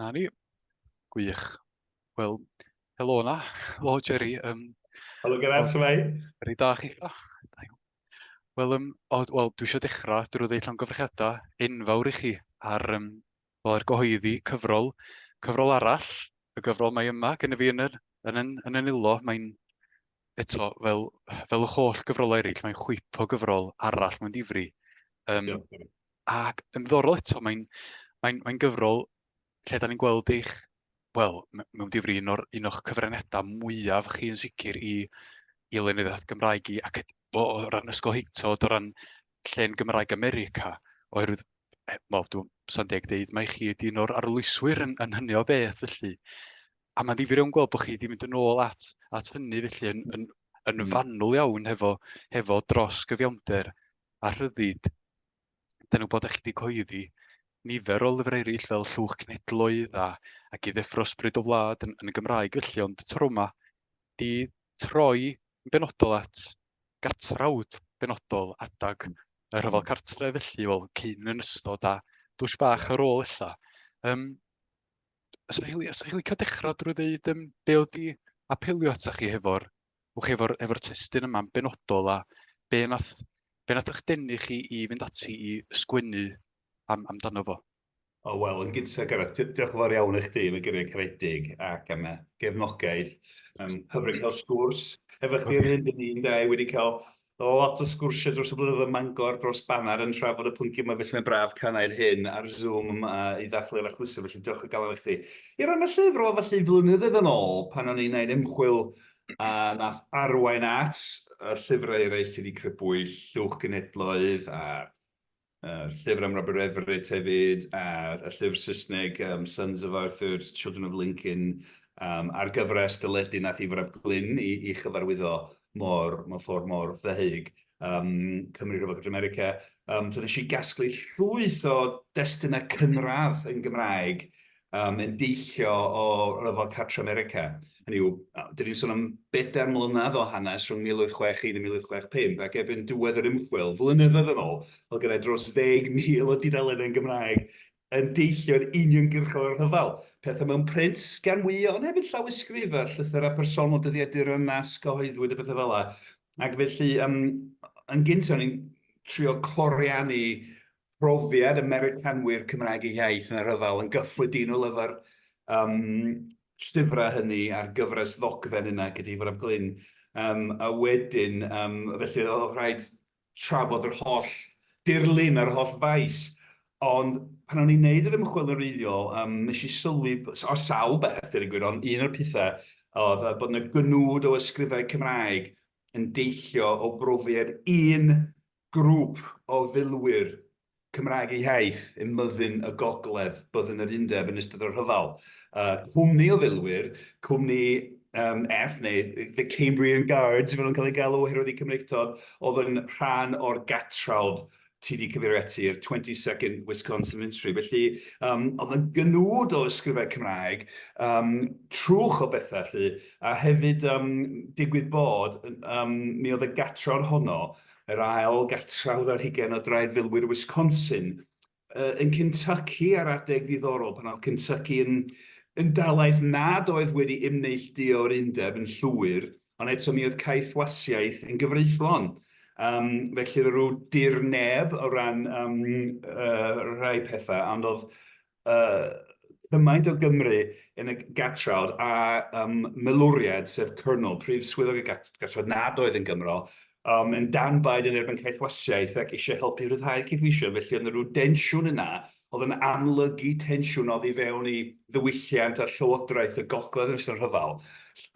Na ni. Gwych. Wel, helo yna. Helo, Jerry. Um, helo, Gerard, sy'n mai? Rydw da chi. Wel, um, well, dwi eisiau dechrau drwy ddeud llongyfrchiadau enfawr i chi ar um, Wel, er gyhoeddi cyfrol, cyfrol arall, y gyfrol mae yma gen i fi yn yr, yn, yn, yn y nilo, mae'n eto, fel, fel y holl gyfrolau eraill, mae'n chwip o gyfrol arall mae'n difri. Um, yeah. Ac yn ddorol eto, mae'n mae, mae gyfrol lle da ni'n gweld eich wel, mewn difri, un, or, un o'ch cyfraniadau mwyaf chi yn sicr i, i lenyddiaeth Gymraeg i, ac o, o ran ysgol Higtod, o ran llen Gymraeg America, oherwydd, e, wel, dwi'n sa'n deg deud, mae chi wedi un o'r arlwyswyr yn, yn hynny o beth, felly. A mae'n ddifur iawn gweld bod chi wedi mynd yn ôl at, at hynny, felly, yn, yn, yn hmm. fanwl iawn hefo, hefo dros gyfiawnder a rhyddid dan nhw'n bod eich di coeddi nifer o lyfrau eraill fel Llwch Cenedloedd a, a i ddeffro Ysbryd o Wlad yn, yn y Gymraeg felly, ond tro yma di troi yn benodol at gatrawd benodol adag y rhyfel hmm. cartre felly, wel, cyn yn ystod a dwys bach ar ôl illa. Um, so, Hili, so, Hili, cael dechrau drwy ddeud um, be oedd di apelio ata chi hefo'r wch chi, efo'r efo testyn yma'n benodol a be nath, be nath eich denu chi i fynd ati i sgwennu am, amdano fo? O, wel, yn gyntaf, Gareth, diolch yn fawr iawn i chdi am y gyrraedd caredig ac am y gefnogaeth. Um, hyfryd cael sgwrs efo chdi ar hyn, dyn ni'n dau wedi cael Roedd lot o sgwrsiau dros y blynyddoedd ym Mangor, dros Baner, yn trafod y pwyntiau yma, felly mae'n braf cael gwneud hyn ar Zoom yma i ddathlu eich achlysur, felly diolch o galon i chdi. I ran y llyfr, wel, felly, flynyddoedd yn ôl, pan o'n i'n gwneud ymchwil a nath arwain at y llyfrau eraill lle 'di crybwyll, lluwch genhedloedd a A'r llyfr am Robert Everett hefyd, a'r y llyfr Saesneg um, Sons of Arthur, Children of Lincoln, um, a'r gyfres dyledu nath i Frab Glyn i, i chyfarwyddo mor, mor ffordd mor ddehyg um, Cymru Rhyfel Cymru America. Um, so nes i gasglu llwyth o destunau cynradd yn Gymraeg um, yn deillio o ryfel cartre America. Hynny yw, dyn ni'n sôn am bedair mlynedd o hanes rhwng 1861 a 1865, ac erbyn diwedd yr ymchwil, flynyddoedd yn ôl, o gyda dros 10,000 o dudaleddau yn Gymraeg yn deillio'n uniongyrchol o'r rhyfel. Pethau mewn print gan mwy, ond hefyd llawysgrif a llythyrau personol dyddiadur yn nas cyhoeddwyd a bethau fel yna. Ac felly, um, yn gyntaf, ni'n trio cloriannu profiad y Meiricanwyr Cymraeg eu hiaith yn y rhyfel yn gyffredinol efo'r um, llyfrau hynny a'r gyfres ddogfen yna gyda Ifor ap Glyn. Um, a wedyn, um, felly oedd rhaid trafod yr holl dirlun a'r holl faes. Ond pan o'n i'n neud yr ymchwil yn reiddiol, um, nes i sylwi, o sawl beth, dyn gwir, ond un o'r pethau oedd bod yna gynwd o ysgrifau Cymraeg yn deillio o brofiad un Grŵp o filwyr Cymraeg eu hiaith ym myddin y gogledd, byddin yr undeb yn ystod y rhyfel. Cwmni o filwyr, cwmni F neu The Cambrian Guards fel oedd o'n cael ei galw oherwydd eu Cymreictod, oedd yn rhan o'r gatrawd ti 'di cyfeirio ati, yr 22nd Wisconsin Infantry. Felly, um, oedd yn gynwd o ysgrifau Cymraeg, um, trwch o bethau, lly, a hefyd um, digwydd bod, um, mi oedd y gatror honno yr ail gartref ar hugain o draed filwyr Wisconsin. Yy yn Kentucky ar adeg ddiddorol pan oedd Kentucky yn yn dalaith nad oedd wedi ymneillduo o'r undeb yn llwyr, ond eto mi oedd caethwasiaeth yn gyfreithlon. Um, felly ryw dir neb o ran um, uh, rhai pethau, ond oedd cymaint o Gymru yn y gatrawd a milwriaid, sef Colonel, prif swyddog y gatrawd nad oedd yn Gymro, yn dan baid yn erbyn caethwasiaeth ac eisiau helpu rhyddhau'r caethweision. Felly oedd yna rhyw densiwn yna oedd yn amlygu tensiwn oedd i fewn i ddiwylliant a llywodraeth y gogledd yn ystod y rhyfel.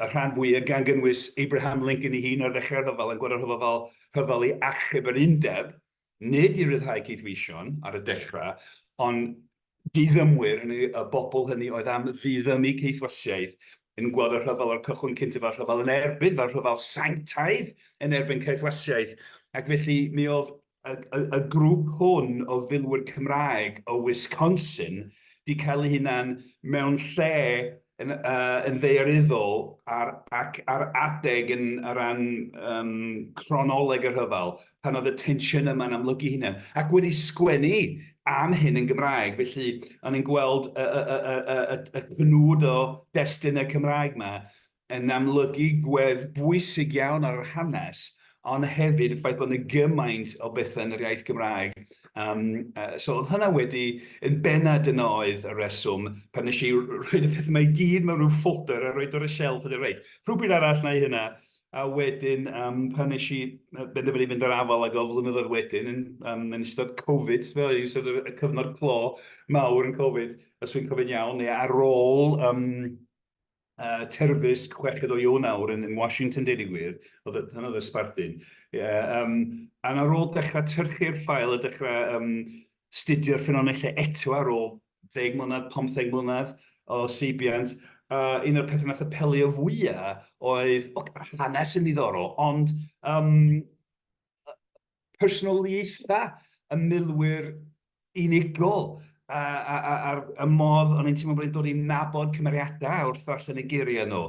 Y rhan fwyaf gan gynnwys Abraham Lincoln ei hun ar ddechrau'r rhyfel yn gweld y rhyfel fel rhyfel i achub yr undeb, nid i ryddhau caethweision ar y dechrau, ond diddymwyr, hynny yw, y bobl hynny oedd am ddiddymu caethwasiaeth, yn gweld y rhyfel o'r cychwyn cyntaf fel rhyfel yn erbyn, fel rhyfel sanctaidd yn erbyn caethwasiaeth, ac felly mi oedd y, y, y grŵp hwn o filwyr Cymraeg o Wisconsin wedi cael eu hunain mewn lle yn ddaearyddol ac ar adeg yn o ran cronoleg y rhyfel, pan oedd y tensiynau yma'n amlygu ei hunain, ac wedi sgwennu am hyn yn Gymraeg. Felly, o'n i'n gweld y cnwd o destunau Cymraeg 'ma yn amlygu gwedd bwysig iawn ar yr hanes, ond hefyd y ffaith bod yna gymaint o bethau yn yr iaith Gymraeg. Um, uh, so oedd hynna wedi, yn benna dyna oedd y reswm, pan nes i rhoi y pethau mae gyd mewn rhyw ffoder a rhoi dod y shelf, ydy rhaid. Rhywbyd arall na i hynna, a wedyn um, pan nes i benderfynu fynd ar afal ag o flynyddoedd wedyn yn, um, yn ystod Covid, fel yn ystod y cyfnod clo mawr yn Covid, os wy'n cofio'n iawn, neu ar ôl um, uh, terfysg chweched o Ionawr yn, yn Washington, dweud i gwir, oedd e, hynny oedd y sbardun. Yeah, um, a ar ôl dechrau tyrchu'r ffael a dechrau um, studio'r ffynonellau eto ar ôl 10 mlynedd, 15 mlynedd o seibiant, uh, un o'r pethau nath apelio fwyaf oedd, o, hanes yn ddiddorol, ond um, personoliaethau y milwyr unigol a'r modd o'n i'n teimlo bod e'n dod i nabod cymeriadau wrth ddarllen y geiriau nhw.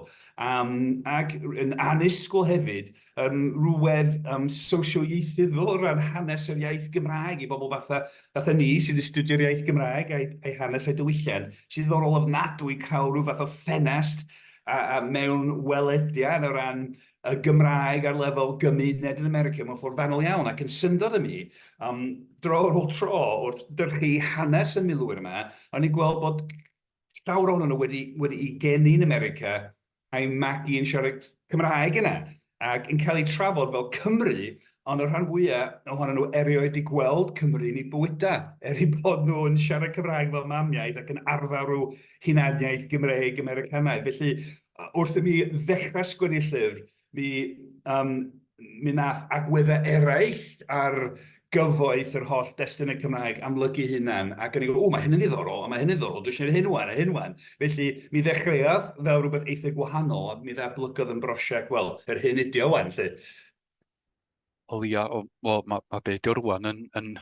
Ac yn annisgwyl hefyd, rhywedd sosioieithyddol o ran hanes yr iaith Gymraeg i bobl fatha ni sy'n astudio'r iaith Gymraeg a'i hanes a'i diwylliant, sy'n ddiddorol ofnadwy cael rhyw fath o ffenest mewn welediad o ran y Gymraeg ar lefel gymuned yn America mewn ffordd fanwl iawn ac yn syndod ym mi, um, dro ar ôl tro wrth dyrchu hanes y milwyr yma, o'n i'n gweld bod llawr o'n nhw wedi, wedi i geni yn America a'i magu yn siarad Cymraeg yna ac yn cael ei trafod fel Cymru, ond y rhan fwyaf ohonyn nhw erioed i gweld Cymru yn ei bywydau, er ei bod nhw yn siarad Cymraeg fel mamiaeth ac yn arfer rhyw hunaniaeth Gymreig Americanaidd. Felly, Wrth i mi ddechrau sgwennu llyfr, mi yym mi wnaeth agweddau eraill ar gyfoeth yr holl destunau Cymraeg amlygu ei hunan, ac o'n i'n gwbod, 'W, mae hyn yn ddiddorol, a mae hyn yn ddiddorol, dwi eisiau gwneud hyn 'wan a hyn 'wan'. Felly, mi ddechreuodd fel rhywbeth eitha gwahanol, ond mi ddatblygodd yn brosiect, wel, yr hyn ydi o 'wan 'lly. Wel ia, wel ma' ma' be' 'di o rŵan yn yn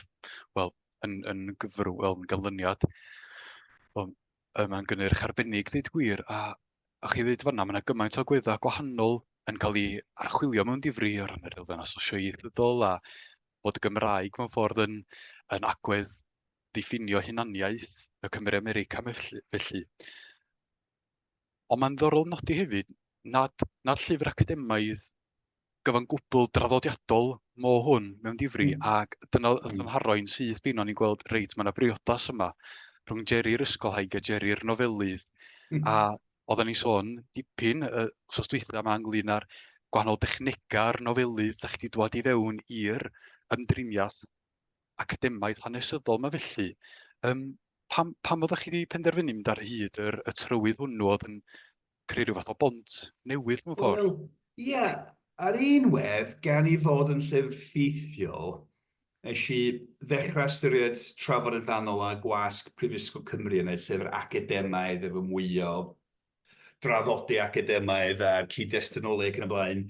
wel yn yn gyfrw- wel yn ganlyniad wel Yy mae'n gynnyrch arbennig ddeud gwir a a chi ddeud fan'na ma' 'na gymaint o agweddau gwahanol yn cael ei archwilio mewn difri o ran yr elfen asosioegyddol a bod y Gymraeg mewn ffordd yn yn agwedd ddiffinio hunaniaeth y Cymry America felly felly. Ond mae'n ddiddorol nodi hefyd nad, nad llyfr academaidd gyfan gwbl draddodiadol mo hwn mewn difri, mm. ac dyna y hmm. ddymharo i'n syth bin o'n i'n gweld, reit, mae yna briodas yma rhwng Jerry'r ysgolhaig a Jerry'r nofelydd. Mm. A oedden ni sôn dipyn y sos dweitha yma ynglyn â'r gwahanol dechnegau'r nofelydd da chi wedi dwad i fewn i'r ymdriniaeth academaidd hanesyddol yma felly. Um, pam, pam oeddech chi wedi penderfynu mynd ar hyd yr, y trywydd hwnnw oedd yn creu rhyw fath o bont newydd mewn ffordd? Wel, ie, yeah, ar un wedd, gan i fod yn llyfr ffeithiol, nes i ddechrau ystyried trafod yn fanol a gwasg Prifysgol Cymru yn ei llyfr academaidd efo mwy o draddodi academaidd a cyd-destinoleg yn y blaen.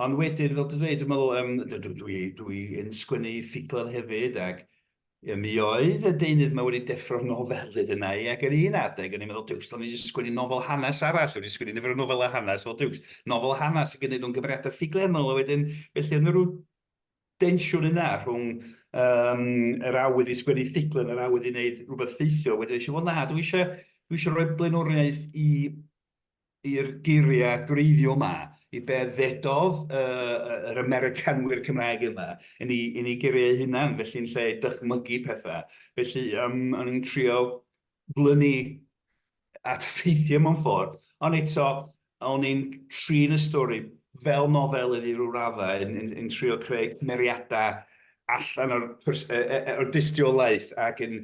Ond wedyn, fel dwi'n dweud, dwi'n meddwl, um, dwi'n dwi, dwi yn sgwennu ffuglen hefyd, ac um, mi oedd y deunydd yma wedi deffro'r nofelydd yna i, ac yn un adeg, o'n i'n meddwl, diws, do'n i'n sgwennu nofel hanes arall, o'n i'n sgwennu nifer o nofel a hanes, fel diws, nofel hanes, ac yn un o'n gymeriadau ffuglenol, a wedyn, felly, yn rhyw densiwn yna rhwng yym yr awydd i sgwennu ffuglen a'r awydd i wneud rhywbeth ffeithiol, wedyn es i wel na dwi eisiau dwi eisiau rhoi blaenoriaeth i i'r geiriau gwreiddiol yma, i be ddedodd uh, yr Americanwyr Cymraeg yma yn ei, yn ei geiriau hunan, felly'n lle dychmygu pethau. Felly um, o'n i'n trio blynu at ffeithiau mewn ffordd, ond eto, o'n i'n trin y stori fel nofelydd i ryw raddau, yn, yn, yn trio creu cymeriadau allan o'r, pers- yy, yy, yy, o'r dystiolaeth ac yn,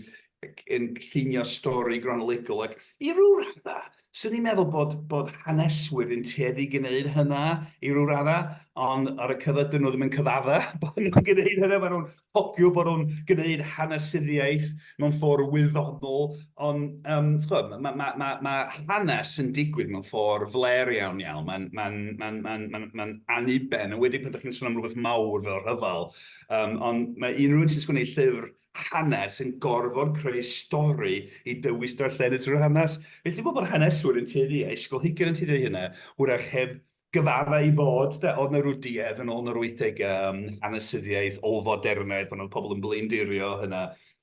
ac yn llunio stori gronolegol ac i ryw raddau, Swn i'n meddwl bod, bod haneswyr yn tueddu gwneud hynna i ryw raddau, ond ar y cyfer dyn nhw ddim yn cyfadda bod nhw'n gwneud hynna, maen nhw'n hofio bod nhw'n gwneud hanesyddiaeth mewn ffordd wyddonol, ond um, chwm, mae ma, ma, ma hanes yn digwydd mewn ffordd fler iawn iawn, mae'n ma, ma, ma, ma, ma anniben, yn wedi pan ydych chi'n sôn am rhywbeth mawr fel rhyfel, um, ond mae unrhyw un sy'n sgwneud llyfr hanes yn gorfod creu stori i dywys darllenydd trwy'r hanes. Felly fel bod haneswyr yn tueddu, a ysgolheigion yn tueddu i hynna, hwyrach heb gyfadda ei bod, de, oedd na rw duedd yn ôl yn yr wythdegau am hanesyddiaeth ôl-fodernaidd pan oedd pobl yn blaendirio hynna,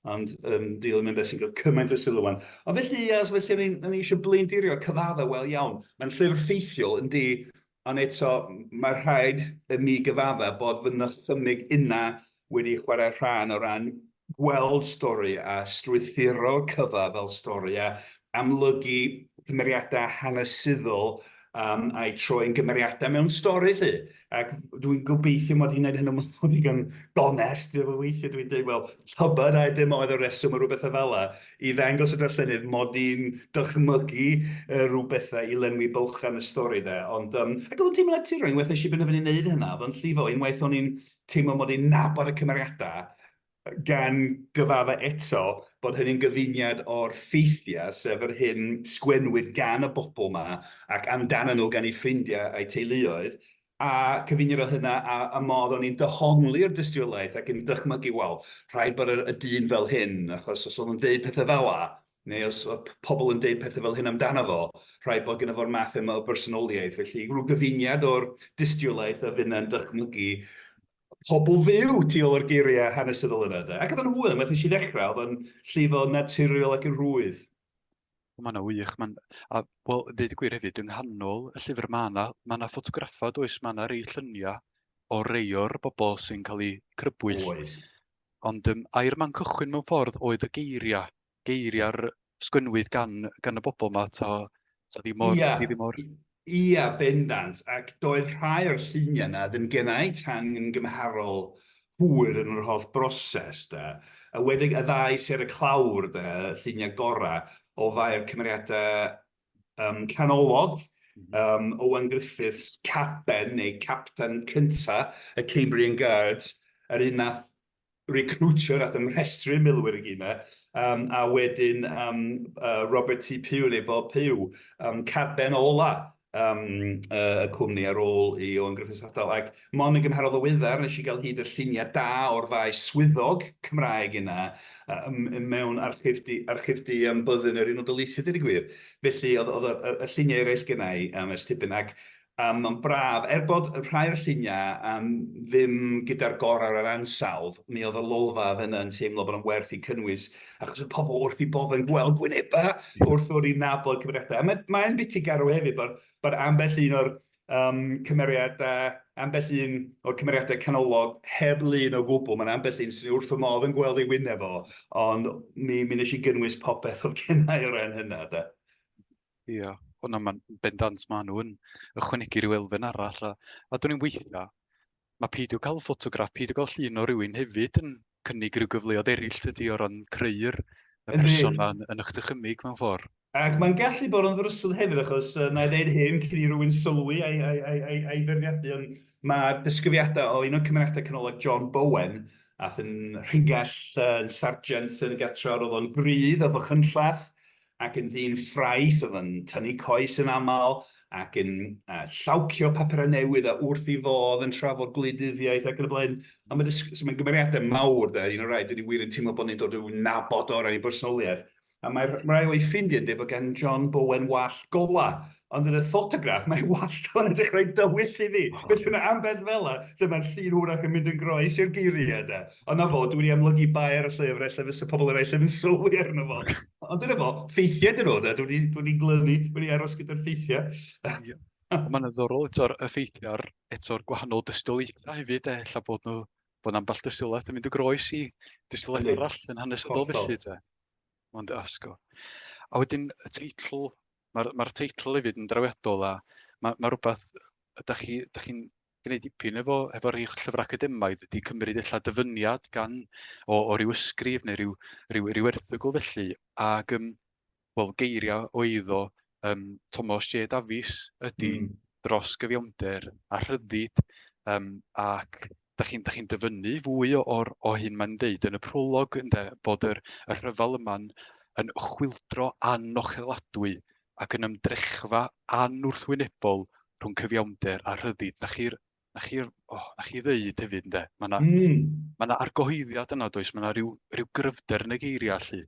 ond um, deal yn mynd beth sy'n cael cymaint o sylw wan. Ond felly, ia, so felly o'n i'n eisiau blaendirio cyfadda, wel iawn, mae'n llyfr ffeithiol, yndi, Ond eto, mae rhaid i mi gyfadda bod fy nychymyg inna wedi chwarae rhan o ran gweld stori a strwythuro cyfa fel stori a amlygu cymeriadau hanesyddol um, a'i troi'n gymeriadau mewn stori 'lly. Ac dwi'n gobeithio mod i'n gwneud hyn yn ddigon gonest, weithiau dwi'n dweud, wel, tybed a dim oedd y reswm o rhywbeth y fela. i ddangos y darllenydd mod i'n dychmygu rhyw bethau i lenwi bylchau yn y stori 'de. Ond yym ac o'dd o'n teimlo'n naturiol, unwaith nes i benderfynu neud hynna, o'dd o'n llifo, unwaith o'n i'n teimlo mod i'n nabod y cymeriada, gan gyfadde eto bod hynny'n gyfuniad o'r ffeithiau, sef yr hyn sgwennwyd gan y bobl 'ma ac amdanyn nhw gan eu ffrindiau a'u teuluoedd, A cyfeunir o hynna a y modd o'n i'n dyhongli'r dystiolaeth ac yn dychmygu, wel, rhaid bod y y dyn fel hyn, achos os o'dd o'n deud pethe fel'a, neu os o'dd p- pobl yn deud pethe fel hyn amdano fo, rhaid bod gynno fo'r math yma o bersonoliaeth. Felly, rhyw gyfuniad o'r dystiolaeth a finna'n dychmygu pobl fyw tu ôl i'r geiria' hanesyddol yna, 'de. Ac o'dd o'n hwyl, unwaith nes i ddechra, o'dd o'n llifo naturiol ac yn rhwydd. Mae yna wych. Mae'n... A wel, ddeud y gwir hefyd, yng nghanol y llyfr mae yna mae yna ffotograffau does, mae yna rei lluniau o rei o'r bobl sy'n cael eu crybwyll. Oes. Ond um, air man cychwyn mewn ffordd oedd y geiriau, geiriau'r sgwynwyd gan, gan y bobl yma, ta, ta ddim o'r... Ia. Ddim o'r... Ia, bendant, ac doedd rhai o'r lluniau 'na ddim gennai tan yn gymharol hwyr yn yr holl broses, 'de. Enwedig y ddau sy ar y clawr, 'de, y lluniau gorau o ddau'r cymeriadau yym canolog, yym Owen Griffiths, Caben neu Capten cynta' y Cambrian Guards, yr un nath recriwtio nath ymrhestru milwyr i gyd 'ma yym a wedyn yym yy Robert T Pugh neu Bob Pugh yym caben ola yym yy y cwmni ar ôl i Owen Griffiths adal ac mond yn gymharol ddiweddar nes i ga'l hyd i'r llunia' da o'r ddau swyddog Cymraeg yna yy yym yy mewn archifdy archifdy yym byddin yr Unol Daleithiau deud y gwir felly o'dd o'dd y y y llunia' eraill gynna' i yym ers tipyn ac A mae'n braf, er bod rhai o'r lluniau am ddim gyda'r gorau o'r ansawdd, mi oedd y lolfa fenna yn teimlo bod o'n werth eu cynnwys, achos oedd pobl wrth eu boddau yn gweld gwynebau wrth ddod i nabod cymeriadau. A mae, mae'n biti garw hefyd bod, bod ambell un o'r um, cymeriadau, ambell un o'r cymeriadau canolog heb lun o gwbl. Mae'n ambell un sy'n wrth fy modd yn gweld ei wyneb o, ond mi, mi nes i gynnwys popeth oedd gennau o ran hynna. Da. Ia, o na, mae'n bendant, mae nhw yn ychwanegu rhyw elfen arall. A, a dwi'n weithio, mae peidio cael ffotograff, peidio cael llun o rywun hefyd yn cynnig rhyw gyfleoedd eraill dydy o ran creu'r y person yma yn, yn eich dychymig mewn ffordd. Ac mae'n gallu bod yn ddrysyl hefyd achos uh, na i ddeud hyn cyn i rywun sylwi a'i, ai, ai, ai, ai ferdiadu, ond mae disgrifiadau o un o'r cymeriadau canolig John Bowen ath yn rhingell yn sargent yn y gatref, oedd o'n grydd a fachynllach, ac yn ddyn ffraeth oedd yn tynnu coes yn aml ac yn uh, llawcio papurau newydd a wrth i fodd yn trafod gwleidyddiaeth ac yn y blaen. A mae'n so mae gymeriadau mawr, da, un o'r rhaid, dyn ni wir yn teimlo bod ni'n dod i'w nabod o ran ei bersonoliaeth. A mae'r rhai o'i ffrindiau'n dweud bod gan John Bowen wall gola, Ond yn y ffotograff, mae walltôn yn dechrau dywyll i fi. Beth yna ambell fela, lle mae'r llun hwyrach yn mynd yn groes i'r geiriau, de. Ond 'na fo, dw i wedi amlygu bai ar y llyfr, ella fysa pobl eraill ddim yn sylwi arno fo. Ond dyna fo, ffeithiau dyn nhw, de. Dw i wedi glynu, wedi aros gyda'r ffeithiau. Ond mae'n ddiddorol eto'r ffeithiau a'r eto'r gwahanol dystiolaethau hefyd, de. Ella bod nhw, bod ambell dystiolaeth yn mynd yn groes i dystiolaeth arall yn hanesyddol felly, de. Mae'n dy asgo. A wedyn y teitl Mae'r ma teitl hefyd yn drawiadol a mae, ma rhywbeth ydych chi, ydych chi'n gwneud dipyn efo, efo rhai llyfrau academaidd wedi cymryd eich dyfyniad gan o, o ryw ysgrif neu ryw, ryw, ryw erthygl felly ac um, well, geiriau o eiddo um, Thomas J Davies ydy mm. dros gyfiawnder a rhyddid um, ac da chi'n da chi dyfynnu fwy o'r o hyn mae'n dweud yn y prolog ynde, bod yr, y rhyfel yma'n yn chwildro anocheladwy ac yn ymdrechfa anwrthwynebol rhwng cyfiawnder a rhyddid. Na chi'r na chi, oh, na chi ddeud hefyd ynde. Mae yna mm. ma argyhoeddiad yna does, mae yna rhyw, rhyw gryfder yn y geiriau allu.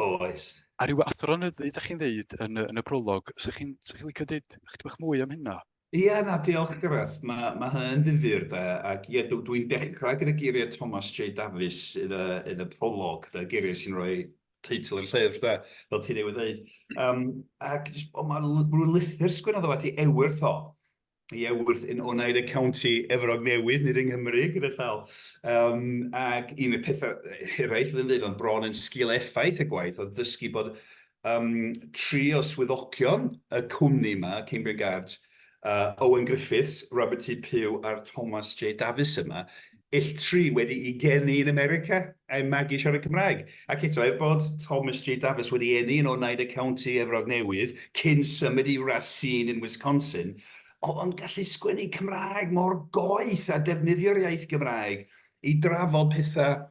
Oes. A rhyw athronyddu, da chi'n ddeud yn, yn y prolog, sy'ch chi'n sy chi licio dweud chydig bach mwy am hynna? Ie, na, diolch Gareth. Mae, mae hynny'n ddifyr de, ac ie, dw, dwi'n dechrau gyda geiriau Thomas J Davies yn y, yn y prolog, de, geiriau sy'n rhoi teitl i'r llyfr de, fel ti newydd ddeud. Um, ac jyst, o, mae rhyw lythyr sgwennodd o at i Ewyth o, i Ewyth yn Oneida County, Efrog Newydd, nid yng Nghymru, gyda llaw. Um, ac un o'r pethau eraill fydd yn dweud, ond bron yn sgil effaith y gwaith, oedd dysgu bod Yym, tri o swyddogion y cwmni 'ma, Cambrian Guards, yy, Owen Griffiths, Robert T Pugh a'r Thomas J Davies yma, ill tri wedi'u geni yn America, a'u magu siarad Cymraeg. Ac eto, er bod Thomas J Davies wedi eni yn Oneida County, Efrog Newydd, cyn symud i Racine yn Wisconsin, oedd o'n gallu sgwennu Cymraeg mor goeth a defnyddio'r iaith Gymraeg i drafod pethau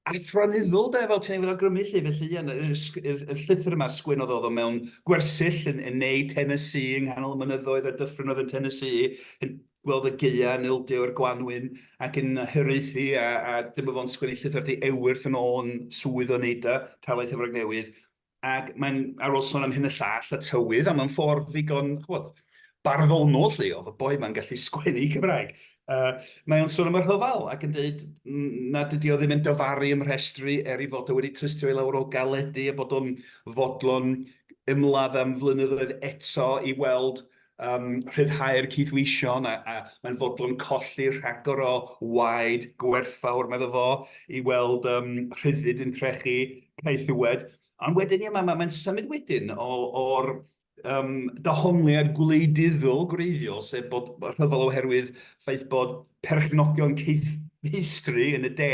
athronyddol de, fel ti'n ei weld awgrymu lly, felly ie, y, y, y llythyr yma sgwenodd oedd o mewn gwersyll yn, yn neu Tennessee yng nghanol y mynyddoedd a dyffryn oedd yn Tennessee, yn gweld y geia yn ildio i'r gwanwyn ac yn hyraethu a, a dyma fo'n sgwennu llythyr di ewyrth yn ôl yn swydd o neud a talaeth Efrog Newydd Ac mae'n, ar ôl sôn am hyn y llall, y tywydd, a mae'n ffordd ddigon, chwod, barddonol lle, oedd y boi mae'n gallu sgwennu Cymraeg. Uh, mae o'n sôn am y rhyfel ac yn dweud na dydy o ddim yn dyfaru ym rhestru er ei fod o wedi trystio i lawr o galedu a bod o'n fodlon ymladd am flynyddoedd eto i weld Yn rhyddhau'r cydweision a mae'n fodlon colli rhagor o waed gwerthfawr, medda fo, i weld rhyddid yn crechu caethiwed. Ond wedyn, ie, mae'n symud wedyn o'r dehongliad gwleidyddol gwreiddiol, sef bod rhyfel oherwydd ffaith bod perchnogion caethfeistri yn y de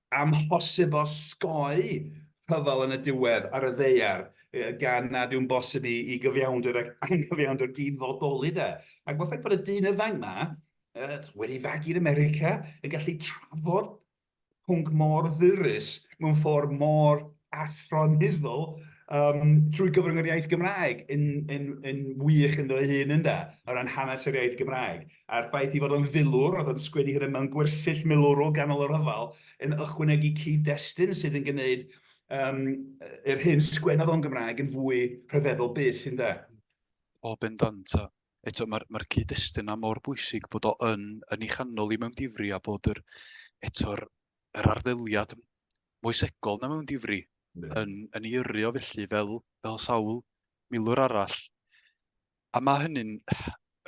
amhosib osgoi rhyfel yn y diwedd ar y ddaear, gan nad yw'n bosib i i gyfiawnder ac anghyfiawnder gyd-fodoli, 'de. Ac ma'r ffaith bod y dyn ifanc 'ma, yy, wedi ei fagu yn America, yn gallu trafod pwnc mor ddyrus mewn ffordd mor athronyddol um, trwy gyfrwng yr iaith Gymraeg yn, yn, yn wych ynddo ei hun ynda, o ran hanes yr iaith Gymraeg. a'r ffaith ei fod o'n filwr, oedd o'n sgwennu hynna mewn gwersyll milwrol ganol y rhyfel, yn ychwanegu cyd-destun sydd yn gwneud um, yr hyn sgwennodd o'n Gymraeg yn fwy rhyfeddol byth, yn da. O, bendant. A eto, mae'r ma cyd-destun yna mor bwysig bod o yn, yn ei chanol i mewn difri a bod yr, eto'r yr arddeliad moesegol na mewn difri yn, yn ei yrru o felly fel, fel sawl milwr arall. A mae hynny'n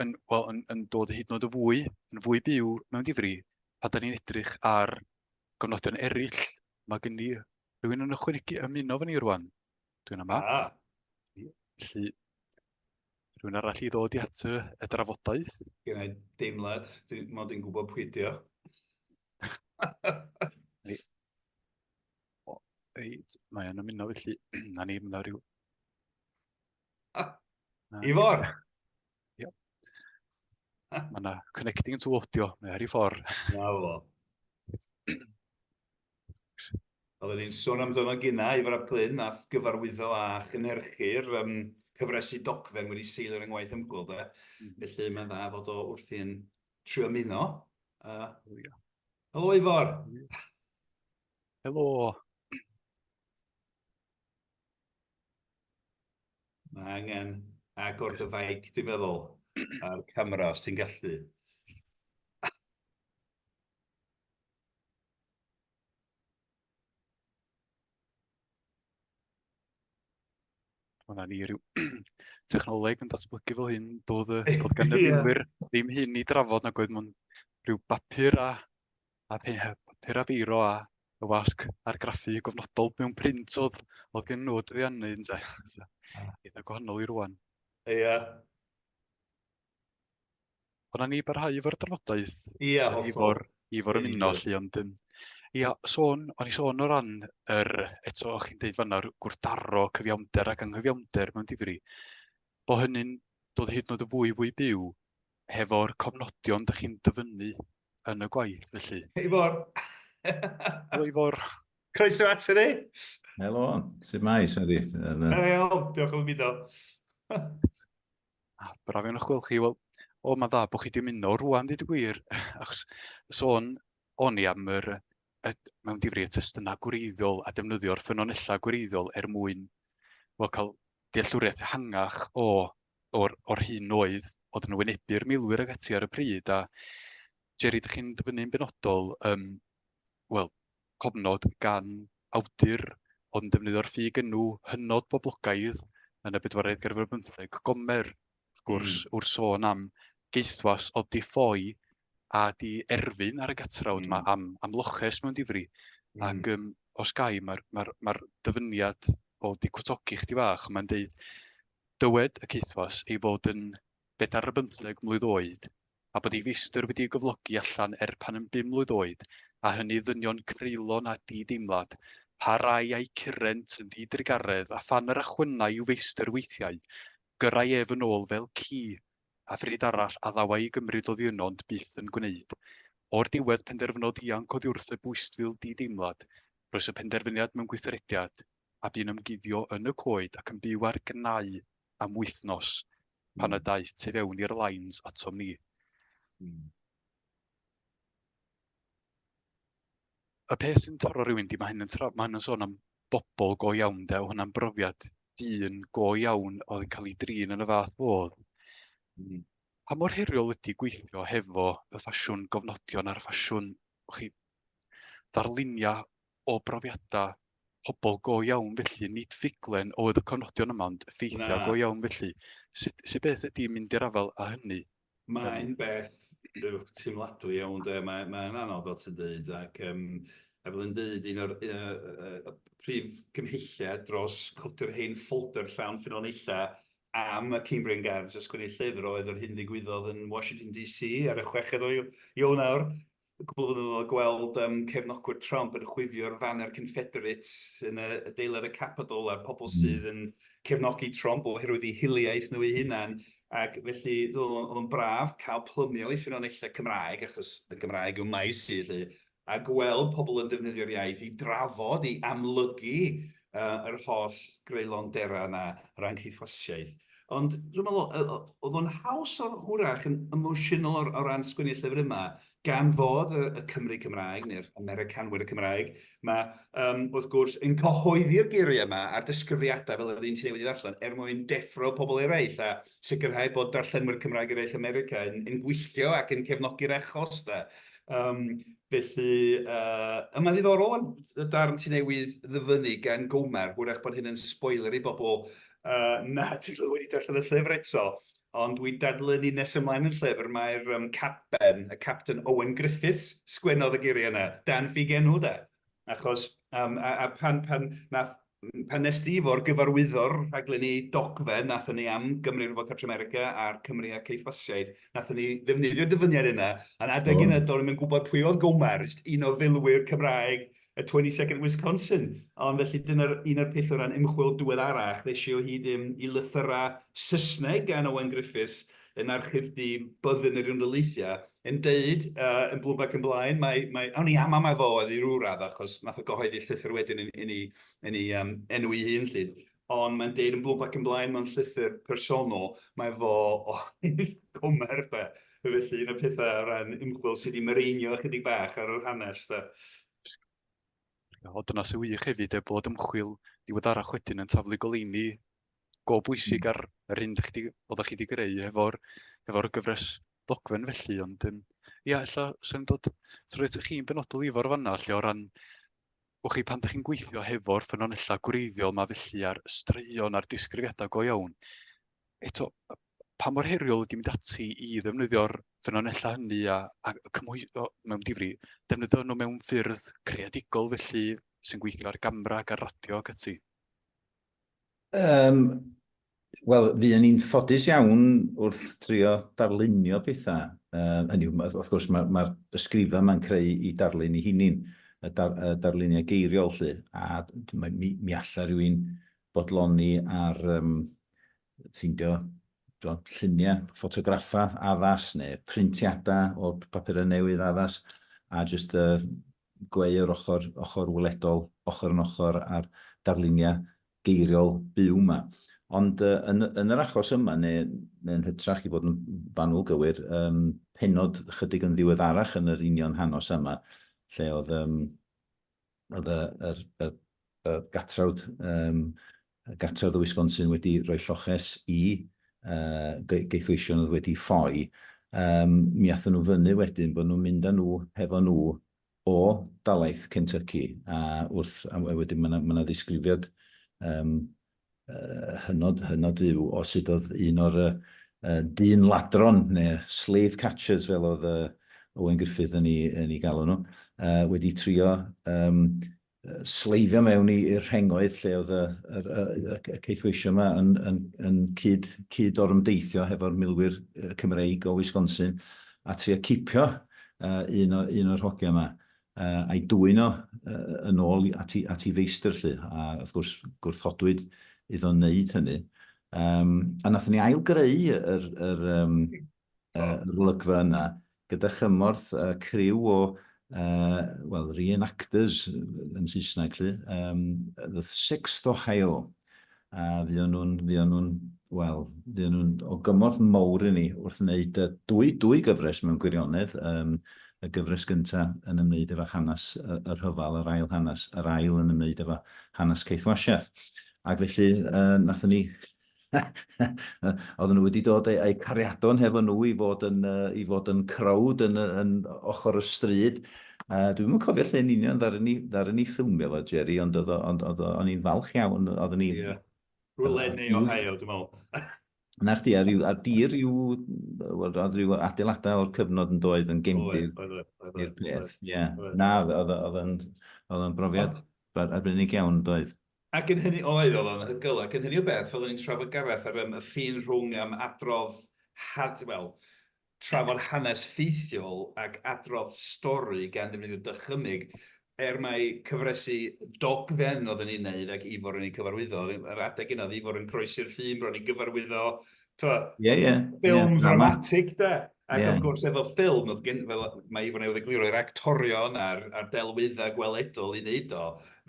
yn, well, yn, yn dod hyd yn oed y fwy, yn fwy byw mewn difri, pan da ni'n edrych ar gofnodion eraill, mae gen i rhywun yn ychwanegu ymuno fan ni rwan. Dwi'n yma. Ah. Felly, rhywun arall i ddod i at y, y drafodaeth. Gen i deimlad, dwi'n mod i'n gwybod pwy dio. Reit, mae'n ymuno felly, na ni, mae'n rhyw Ifor! Yep. Mae yna connecting to audio, mae ar ei ffordd. Na fo. Oedden ni'n sôn amdano gyna, Ifor a Plyn, nath gyfarwyddo a chynhyrchu'r um, cyfresu dogfen wedi seilio ar yngwaith ymgwyl, de. Mm. Felly mae'n dda fod o wrthi yn trio ymuno. Uh, oh, yeah. Helo, Ifor! Helo! Mae angen agor dy faic, dwi'n meddwl, a'r camera, os ti'n gallu. Hwna ni rhyw technoleg yn datblygu fel hyn, doedd, doedd gan y ddim hyn i drafod nag oedd mewn rhyw bapur a a papur a beiro a y wasg argraffu gofnodol mewn print oedd, oedd gen nhw dyddiannu yn te. Eitha gwahanol i rwan. Ie. Yeah. Ond na ni barhau efo'r drafodaeth. Ie, yeah, hollol. Efo'r efo'r ymuno lle, ond um, ia, sôn, o'n i sôn o ran yr, eto o'ch chi'n deud fanna, gwrthdaro cyfiawnder ac anghyfiawnder mewn difri, bod hynny'n dod hyd yn oed yn fwy fwy byw hefo'r cofnodion da chi'n dyfynnu yn y gwaith, felly. Ifor! Helo, Ifor. Croeso at ni! Helo, sut mae, Sari? Helo, diolch yn mynd o. Ah, braf iawn o'ch gweld chi. Wel, o, mae'n dda bod chi wedi mynd o rwan, dweud y gwir. Achos sôn o'n i am yr, y, mewn difri y testunau gwreiddiol a defnyddio'r ffynonellau gwreiddiol er mwyn wel, cael dealltwriaeth ehangach o o'r, o'r hyn oedd, oedd yn wynebu'r milwyr ag ati ar y pryd, a Jerry, dych chi'n dyfynnu'n benodol, um, wel, cofnod gan awdur oedd yn defnyddio'r ffug enw hynod boblogaidd yn y bedwaredd gerfod bymtheg, gomer, wrth gwrs, mm. wrth sôn am geithwas o di ffoi a di erfyn ar y gatrawd yma mm. am, am loches mewn difri. Mm. Ac um, os gai, mae'r ma ma, dyfyniad o di cwtogi chdi fach, mae'n deud, Dywed y caethwas ei fod yn bedair ar bymtheg mlwydd oed a bod ei feistr wedi ei gyflogi allan er pan yn bum mlwydd oed a hynny ddynion creulon a di-deimlad, pa rai a'i curent yn ddi-drugaredd a phan yr achwynai i'w feistr weithiau, gyrrai ef yn ôl fel ci, a phryd arall a ddawai i gymryd oddi yno ond byth yn gwneud. O'r diwedd penderfynodd ianc oddiwrth y bwystfil di-deimlad, rhoes y penderfyniad mewn gweithrediad, a bu'n ymguddio yn y coed ac yn byw ar gnau am wythnos pan y hmm. daeth tu fewn i'r lines atom ni. Hmm. Y peth sy'n taro rhywun di, mae hyn yn, tra, mae hyn yn sôn am bobl go iawn de, o hwnna'n brofiad dyn go iawn oedd yn cael ei drin yn y fath fodd. Mm. Pa mor heriol ydy gweithio hefo y ffasiwn gofnodion a'r ffasiwn chi, ddarluniau O brofiadau pobl go iawn felly, nid ffuglen oedd y cofnodion yma ond effeithiau go iawn felly. Sut, sut beth ydy mynd i'r afael â hynny? Mae'n beth teimladwy iawn de, mae'n mae anodd fel ti'n dweud ac um, a fel yn dweud un o'r uh, uh, prif gymhelliau dros codi'r hen ffolder llawn ffynonellau am y Cambrian Guards a sgwennu llyfr oedd yr hyn ddigwyddodd yn Washington DC ar y chweched o Ionawr cwpl o flynyddoedd a gweld yym cefnogwyr Trump yn chwifio'r faner Confederate yn y adeilad y Capitol a'r pobl sydd yn cefnogi Trump oherwydd eu hiliaeth nhw eu hunain ac felly oedd o'n braf cael plymio i ffynonellau Cymraeg achos y Gymraeg yw maes i 'lly a gweld pobl yn defnyddio'r iaith i drafod, i amlygu yr holl greulondera yna o ran caethwasiaeth. Ond dwi'n meddwl oedd o'n haws hwyrach yn emosiynol o ran sgwennu'r llyfr yma, gan fod y Cymry Cymraeg, neu'r Americanwyr Cymraeg, yma, wrth gwrs, yn cyhoeddi'r geiriau yma a'r disgrifiadau fel yr un ti newydd ei ddarllen, er mwyn deffro pobl eraill, a sicrhau bod darllenwyr Cymraeg eraill America yn, yn gwylltio ac yn cefnogi'r achos da. Um, felly, uh, mae'n ddiddorol yn y darn ti newydd ddyfynnu gan Gomer, hwyrach bod hyn yn spoiler i bobl uh, nad ydw wedi darllen y llyfr eto, ond dwi'n dadlynu nes ymlaen yn llyfr, mae'r um, capten, y capten Owen Griffiths, sgwennodd y geiriau yna, dan ffug enw da. Achos, um, a, a pan, pan, nath, pan nes di fo'r gyfarwyddor rhaglen ni dogfen, nath ni am Gymru Rwyfo Cartre America a'r Cymru a Ceithfasiaeth, nath ni ddefnyddio dyfyniad yna, a'n adeg oh. yna, do'n i'n gwybod pwy oedd Gomar, un o filwyr Cymraeg y 22nd Wisconsin. Ond felly dyna'r un o'r peth o ran ymchwil diweddarach, ddeisio hyd i, i lythyrau Saesneg gan Owen Griffiths, yn archif du Byddin yr Unrhyleithiau, yn deud yy yn Bloomberg yn blaen, mae, mae, awn ni am am efo oedd i rhyw radd achos nath o gyhoeddi llythyr wedyn yn, yn, yn ei um, enw ei hun lli. Ond mae'n deud yn Bloomberg yn blaen mewn llythyr personol, mae fo o gomer de. Felly un o'r pethau o ran ymchwil sydd wedi myreinio ychydig bach ar yr hanes de. O, dyna sy'n wych hefyd, e, bod ymchwil diweddarach wedyn yn taflu goleini go bwysig ar yr hyn ydych chi, oeddech chi wedi greu efo'r efo gyfres ddogfen felly, ond um, ia, ella sy'n dod trwy ydych chi'n benodol i fo'r fanna, lle o ran, wch chi, pan ydych chi'n gweithio hefo'r ffynonellau gwreiddiol mae felly ar straeon a'r disgrifiadau go iawn, eto, pa mor heriol ydy mynd ati i ddefnyddio'r ffynonellau hynny a, a cymhwyso mewn difri, defnyddio nhw mewn ffyrdd creadigol felly sy'n gweithio ar gamera ac ar radio ac ati? Um, Wel, fuon ni'n ffodus iawn wrth trio darlunio pethau. Uh, hynny, wrth gwrs, mae'r ma, ma ysgrifa yma'n creu i darlun i hunin, y, dar, y darluniau geiriol lle, a mi, mi allai rhywun bodloni ar um, ffindio do, lluniau, ffotograffa addas neu printiadau o papurau newydd addas, a jyst uh, gweir ochr ochr weledol, ochr yn ochr â'r darluniau geiriol byw 'ma. Ond yy yn y yn yr achos yma, neu neu yn hytrach i fod yn fanwl gywir, yym pennod ychydig yn ddiweddarach yn yr union hanos yma, lle oedd yym oedd y yr y y gatrawd yym Gartref Wisconsin wedi rhoi lloches i gaethweision oedd wedi ffoi. Mi aethon nhw fyny wedyn bod nhw'n mynd â nhw hefo nhw o dalaith Kentucky a wrth a wedyn ma' 'na ma' 'na ddisgrifiad yym yy hynod hynod fyw o sut oedd un o'r yy yy dyn ladron neu'r slave catchers fel oedd yy Owen Griffith yn 'i yn 'i galw nhw yy wedi trio yym sleifio mewn i'r rhengoedd lle oedd y caethweisio yma yn cyd-orymdeithio hefo'r milwyr Cymreig o Wisconsin a trio cipio un o'r hogia yma a'i dwyn o yn ôl ati feistr 'lly, a wrth gwrs gwrthodwyd iddo wneud hynny. A wnaethon ni ail-greu yr yr olygfa yna, gyda chymorth y criw o, wel, re-enactors yn Saesneg, lly, the Sixth Ohio, a fuon nhw'n, fuon nhw'n, wel, fuon nhw'n o gymorth mowr i ni wrth wneud dwy, dwy gyfres mewn gwirionedd, y gyfres gynta yn ymwneud efo hanes y rhyfel, yr ail hanes, yr ail yn ymwneud efo hanes Keith Washeth. Ac felly, yy, nathon ni oedden nhw wedi dod a'u a'u cariadon hefo nhw i fod yn uh, i fod yn crowd yn yn ochr y stryd. Uh, dwi'n yn cofio lle yn union ddaru ni, ddaru ni ffilmio fo, Jerry, ond oedd ond oedd o'n i'n falch iawn, oedden ni... Yeah. Rwle neu Ohio, dwi'n meddwl. Na chdi, ar, ar dir yw, oedd rhyw adeiladau o'r cyfnod yn doedd yn gemdir i'r peth. Ie. Na, oedd o'n brofiad arbennig iawn, doedd. Ac yn hynny oedd, oedd o'n anhygoel, ac yn hynny o beth, fel o'n i'n trafod Gareth ar yym y ffin rhwng yym adrodd had- wel, trafod hanes ffeithiol ac adrodd stori gan ddefnyddio dychymyg, er mai cyfresi dogfen oedden ni'n neud ac Ifor yn eu cyfarwyddo, yr adeg yna oedd Ifor yn groesi'r ffin bron i gyfarwyddo Twa, yeah, yeah, ffilm yeah, dramatic de. Ac yeah. of gwrs, efo ffilm, oedd gen, fel mae Ifon ei wedigluro, i'r actorion a'r, ar delwyddau gweledol i wneud o.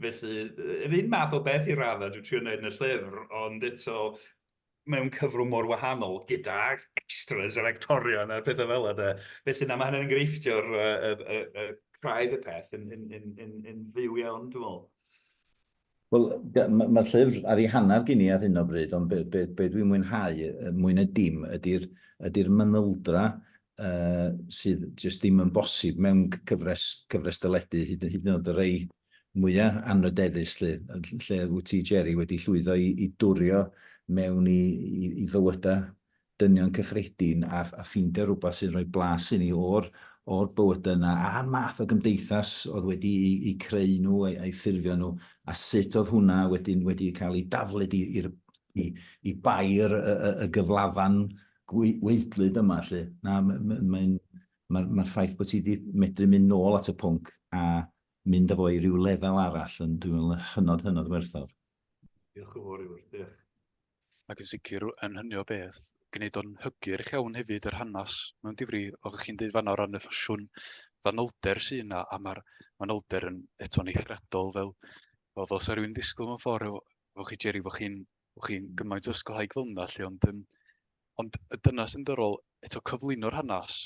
Felly, yr un math o beth i raddau dwi'n trio wneud yn y llyfr, ond eto mewn cyfrwng mor wahanol gyda extras yr actorion a'r pethau fel yna. Felly, na, mae hynny'n enghreifftio'r uh, uh, uh, craidd y peth yn, yn, yn, yn, yn fyw iawn, dwi'n meddwl. Wel, mae'r llyfr ar ei hanner gen i ar hyn o bryd, ond be, be, be dwi'n mwynhau mwy na dim ydy'r ydy mynyldra uh, sydd jyst ddim yn bosib mewn cyfres, cyfres dyledu, hyd, hyd yn oed y rei mwyaf anrydeddus lle, lle wyt ti, Jerry, wedi llwyddo i, i dwrio mewn i, i, i fywydau dynion cyffredin a a ffeindio rwbath sy'n rhoi blas i ni o'r o'r bywyda yna a'r math o gymdeithas oedd wedi'u eu creu nhw a'u a'u ffurfio nhw a sut oedd hwnna wedyn wedi cael ei daflud i i'r i i bair y y y gyflafan gwe- weidlyd yma 'lly. Na m- m- mae'n ma'r ma'r ffaith bod ti 'di medru mynd nôl at y pwnc a mynd â fo i ryw lefel arall yn dwi'n meddwl yn hynod hynod werthfawr. Diolch yn fawr Iwan. Diolch. Ac yn sicr, yn hynny o beth, gwneud o'n hygyrch iawn hefyd yr hanes mewn difri, oedd chi'n dweud fanna o ran y ffasiwn fanylder sy'n yna, a mae'r fanylder yn eto'n eithriadol fel, fel fel sa rhywun ddisgwyl mewn ffordd, fel chi Jerry, bod chi'n chi gymaint o ysgolhaig fel yna, lle, ond, um, ond dyna sy'n dyrol, eto cyflwyno'r hanes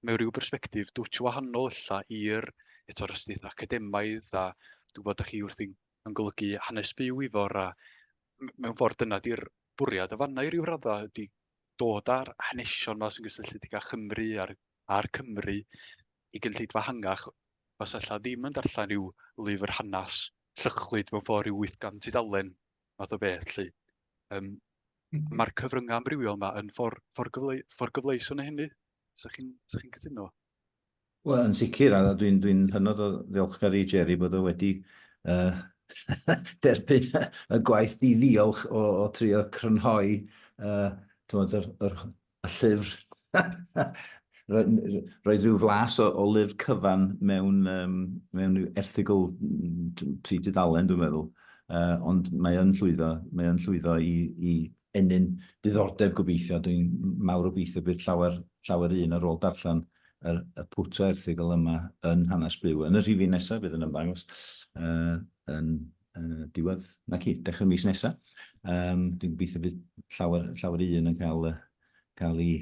mewn rhyw bersbectif dwtch wahanol illa i'r eto rhysdith academaidd a dwi'n bod â chi wrthi'n yn golygu hanes byw i fawr a mewn ffordd dyna di'r bwriad y fanna i ryw raddau ydy dod â'r hanesion yma sy'n gysylltiedig â Chymru a'r, ar Cymru i gynllidfa hangach os allai ddim yn darllen rhyw lyfr hanes llychlyd mewn ffordd rhyw 800 tudalen math o beth lly. Um, mm -hmm. Mae'r cyfryngau amrywiol yma yn ffordd, ffordd, gyfle, ffordd gyfleus o'n hynny. Sa chi'n chi cytuno? Wel, yn sicr, a dwi'n dwi hynod o ddiolchgar i Jerry bod o wedi uh, derbyn y gwaith di ddiolch o, o trio crynhoi uh, tywed, yr, yr, y llyfr. Roedd rhyw flas o, o lyfr cyfan mewn, um, mewn erthigol tri dudalen, dwi'n meddwl. Uh, ond mae yn llwyddo, mae yn llwyddo i, i ennyn diddordeb gobeithio, dwi'n mawr obeithio bydd llawer, llawer un ar ôl darllen y, y pwt o erthygl yma yn Hanes Byw. Yn y rhifyn nesaf bydd yn ymddangos uh, yn uh, diwedd, na ci, dechrau mis nesaf. Um, dwi'n gobeithio bydd llawer, llawer un yn cael, cael ei,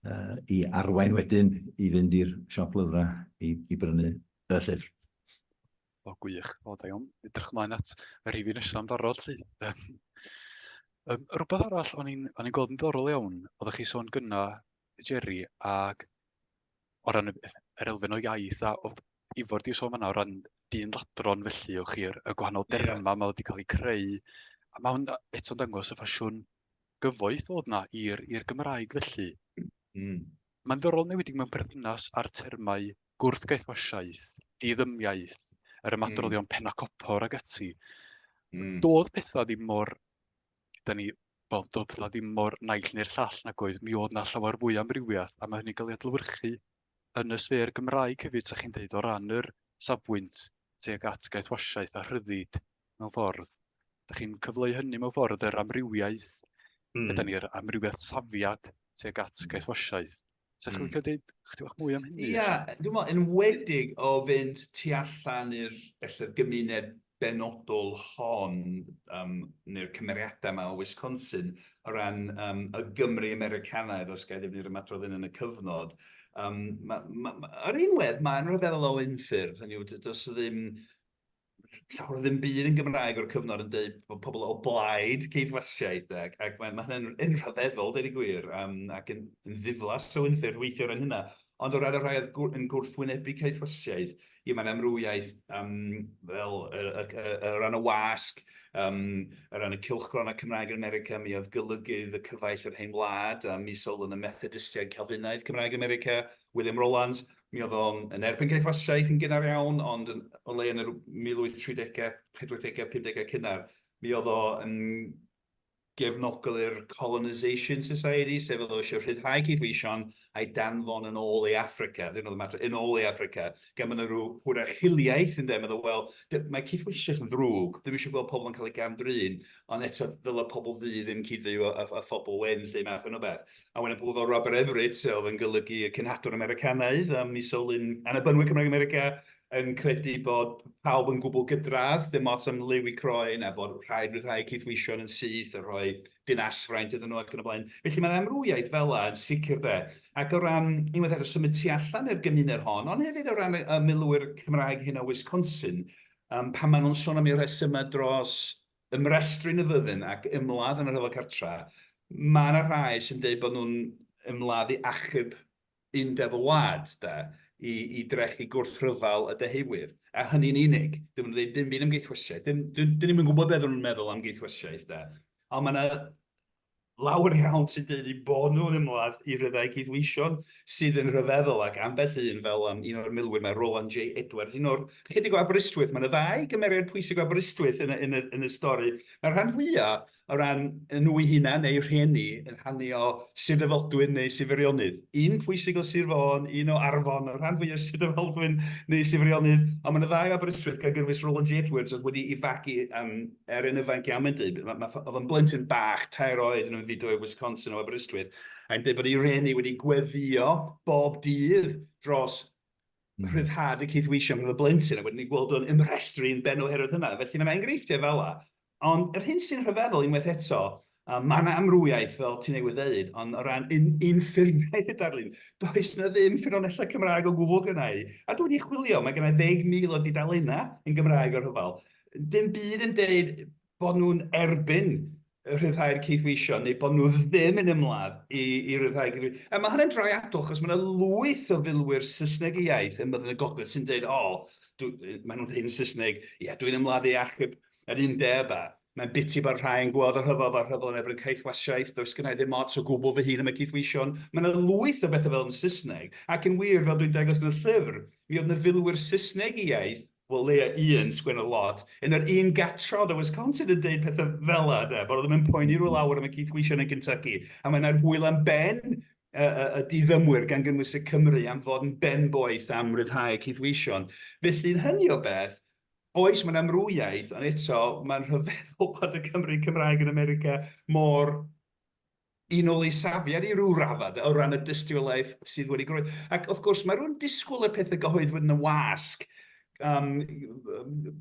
uh, ei arwain wedyn i fynd i'r siop lyfrau i, i brynu y llyfr. O gwych, o da iawn. Edrych ymlaen at y rhifyn nesaf yn barod lly. Um, rhywbeth arall o'n i'n gweld yn ddorol iawn, oeddech chi sôn gyna, Jerry, ac o ran yr elfen o iaith a oedd Ifor di sôn yna o ran dyn ladron felly o'ch chi'r y gwahanol derma yeah. mae wedi cael eu creu. A mae hwn eto'n dangos y ffasiwn gyfoeth oedd yna i'r Gymraeg felly. Mm. Mae'n ddorol newidig mewn perthynas â'r termau gwrthgaethwasiaeth, diddymiaeth, yr ymadroddion mm. penacopor ag ati. Mm. Doedd pethau ddim mor, da ni, wel, doedd pethau ddim mor naill neu'r llall nag oedd, mi oedd na llawer fwy amrywiaeth, a mae hynny'n cael ei adlywyrchu yn y sfer Gymraeg hefyd, sa chi'n dweud, o ran yr safbwynt tuag at gaethwasiaeth a rhyddid mewn ffordd. Da chi'n cyfleu hynny mewn ffordd yr amrywiaeth, mm. da ni'r amrywiaeth safiad tuag at gaethwasiaeth. Sa chi'n licio dweud chdi bach mwy am hynny? Ia, dwi'n meddwl, yn wedig o fynd tu allan i'r felly'r gymuned benodol hon, um, neu'r cymeriadau yma o Wisconsin, o ran um, y Gymru Americanaidd, os gael ddefnydd ymadrodd yn y cyfnod. Um, ma, ma, ma, ar un wedd, mae'n rhyfeddol o unffurf, hynny yw, does ddim llawer o ddim byd yn Gymraeg o'r cyfnod yn dweud bod pobl o blaid ceidwasiaeth, ac, ac mae, mae hynny'n yn rhyfeddol, dweud y gwir, um, ac yn, yn ddiflas o unffyrdd weithio ran hynna. Ond o ran y rhai oedd yn gwrthwynebu caethwasiaeth, i mae'n amrywiaeth um, fel y, y, y, y ran y wasg, um, y ran y cilchgron a Cymraeg yn America, mi oedd golygydd y cyfaill yr hen wlad, a mi sol yn y Methodistiaid Calfinaidd Cymraeg yn America, William Rollans, Mi oedd o yn erbyn caethwasiaeth yn gynnar iawn, ond yn o leia yn yr 1830au, 40au, 50au cynnar, mi oedd o yn gefnogol i'r Colonisation Society, sef oedd o eisiau rhyddhau caethweision a'i danfon yn ôl i Affrica, ddim oedd y mater, yn ôl i Affrica, gan bod yna rhyw hwrach hiliaeth, ynde, meddwl, wel, mae caethweisiaeth yn ddrwg, ddim eisiau gweld pobl yn cael eu gam-drin, Ond eto, ddylai pobl ddu ddim cyd-fyw â, â, â phobl wen, 'lly, math yna o beth. A wedyn pobl fel Robert Everett, oedd yn golygu y cenhadwr Americanaidd, a mi sylwyn Annibynwyr Cymraeg America yn credu bod pawb yn gwbl gydradd, dim ots am liw i croen, a bod rhaid rhyddhau cydweision yn syth a rhoi dinasfraint iddyn nhw ac yn y blaen. Felly mae'n amrwyaeth fel yna yn sicr de. Ac o ran, unwaith eto, symud tu allan i'r gymuned hon, ond hefyd o ran y, y milwyr Cymraeg hyn o Wisconsin, Yym, pan maen nhw'n sôn am eu rhesymau dros ymrestru yn y fyddin ac ymladd yn y Rhyfel Cartra, mae yna rhai sy'n deud bod nhw'n ymladd i achub undeb y wlad, de, i, i drechu gwrthryfel y Deheuwyr, a hynny'n unig. Dyn nhw'n dweud dim byd am geithwesiaeth. Dyn, dyn, dyn ni'm yn gwybod beth oedden nhw'n meddwl am geithwesiaeth, de. Ond mae yna Lawer iawn sy'n dweud eu bod nhw'n ymladd i ryddhau gydweision sydd yn rhyfeddol ac ambell un fel yym un o'r milwyr 'ma Roland J Edwards, un o'r ychydig o Aberystwyth, mae 'na ddau gymeriad pwysig o Aberystwyth yn y yn y yn y stori. Mae'r rhan fwya' o ran yy nhw'u hunan neu rhieni yn rhannu o Sir Drefaldwyn neu Sir Feirionydd. Un pwysig o Sir Fôn, un o Arfon, y rhan fwya' o Sir Drefaldwyn neu Sir Feirionydd, ond mae 'na ddau o Aberystwyth gan gyrwys Roland J Edwards oedd wedi'i fagu yym er yn ifanc iawn, mae'n dweud, oedd yn blentyn bach, tair oed yn ymfudo i Wisconsin o Aberystwyth, a'n dweud bod ei reni wedi gweddio bob dydd dros mm. rhyddhad y cydweisio rhwng y blentyn, a wedyn ni'n gweld o'n ymrestru'n ben oherwydd hynna. Felly mae'n enghreifftiau fel la. Ond yr hyn sy'n rhyfeddol unwaith eto, A mae yna amrywiaeth, fel ti newydd ddeud, ond o ran un, un ffurfiaeth y darlun, does yna ddim ffynonellau Cymraeg o gwbl gynna i. A dwi wedi chwilio, mae gynna i ddeg mil o dudalennau yn Gymraeg o'r rhyfel. Dim byd yn deud bod nhw'n erbyn rhyddhau'r caethweision neu bod nhw ddim yn ymladd i, i ryddhau caethweision. A mae hynny'n draiadol, achos mae yna lwyth o filwyr Saesneg y iaith ym Myddin y Gogledd sy'n deud, o, dw, maen nhw'n hyn Saesneg, ie, dwi'n ymladd i achub yr undeb a Mae'n biti bod rhai yn gweld y rhyfel fel rhyfel yn erbyn caethwasiaeth, does gynna i ddim ots o gwbl fy hun am y caethweision. Mae yna lwyth o bethau fel yn Saesneg, ac yn wir, fel dwi'n dangos yn y llyfr, mi oedd yna filwyr Saesneg i iaith, wel leia un, sgwennodd lot, yn yr un gatrod o Wisconsin yn deud pethau fela, de, bod o ddim yn poeni rhyw lawer am y caethweision yn Kentucky, a mae yna'r hwyl am ben y, y, y diddymwyr, gan gynnwys y Cymry, am fod yn ben-boeth am ryddhau y caethweision. Felly, yn hynny o beth, Oes, mae'n amrwyaeth, ond eto, mae'n rhyfeddol bod y Cymry Cymraeg yn America mor un ol ei safiad i ryw raddau, o ran y dystiolaeth sydd wedi groed. Ac wrth gwrs, mae rhywun disgwyl y pethau gyhoeddwyd yn y wasg, um,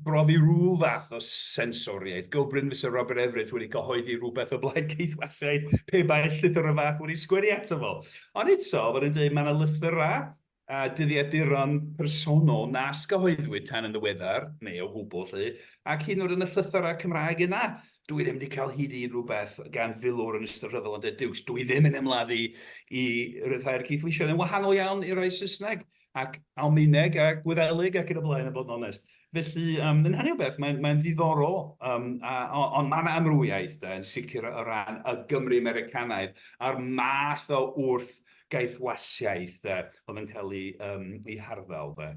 brofi rhyw fath o sensoriaeth. Go Bryn fysa Robert Everett wedi cyhoeddi rhywbeth o blaid ceithwasiaid pe bai llythyrau fach wedi sgwennu ato fo. Ond eto, fel yn dweud, mae yna lythyrau a dyddiaduron personol nas gyhoeddwyd tan yn ddiweddar, neu o gwbl 'lly, ac hyd yn oed yn y llythyrau Cymraeg yna, dw i ddim wedi cael hyd i unrhyw beth gan filwr yn ystod rhyfel yn De Dukes, dw i ddim yn ymladdu i ryddhau'r cydweithwyr, yn wahanol iawn i'r rhai Saesneg, ac Almaeneg, a Gwyddelig, ac yn y blaen, a bod yn onest. Felly, yym, yn hynny o beth, mae'n mae'n ddiddorol, yym, a, o, ond mae yna amrywiaeth, de, yn sicr o ran y Gymry Americanaidd, a'r math o wrth gaethwasiaeth yy oedd yn cael ei yym ei harddel de.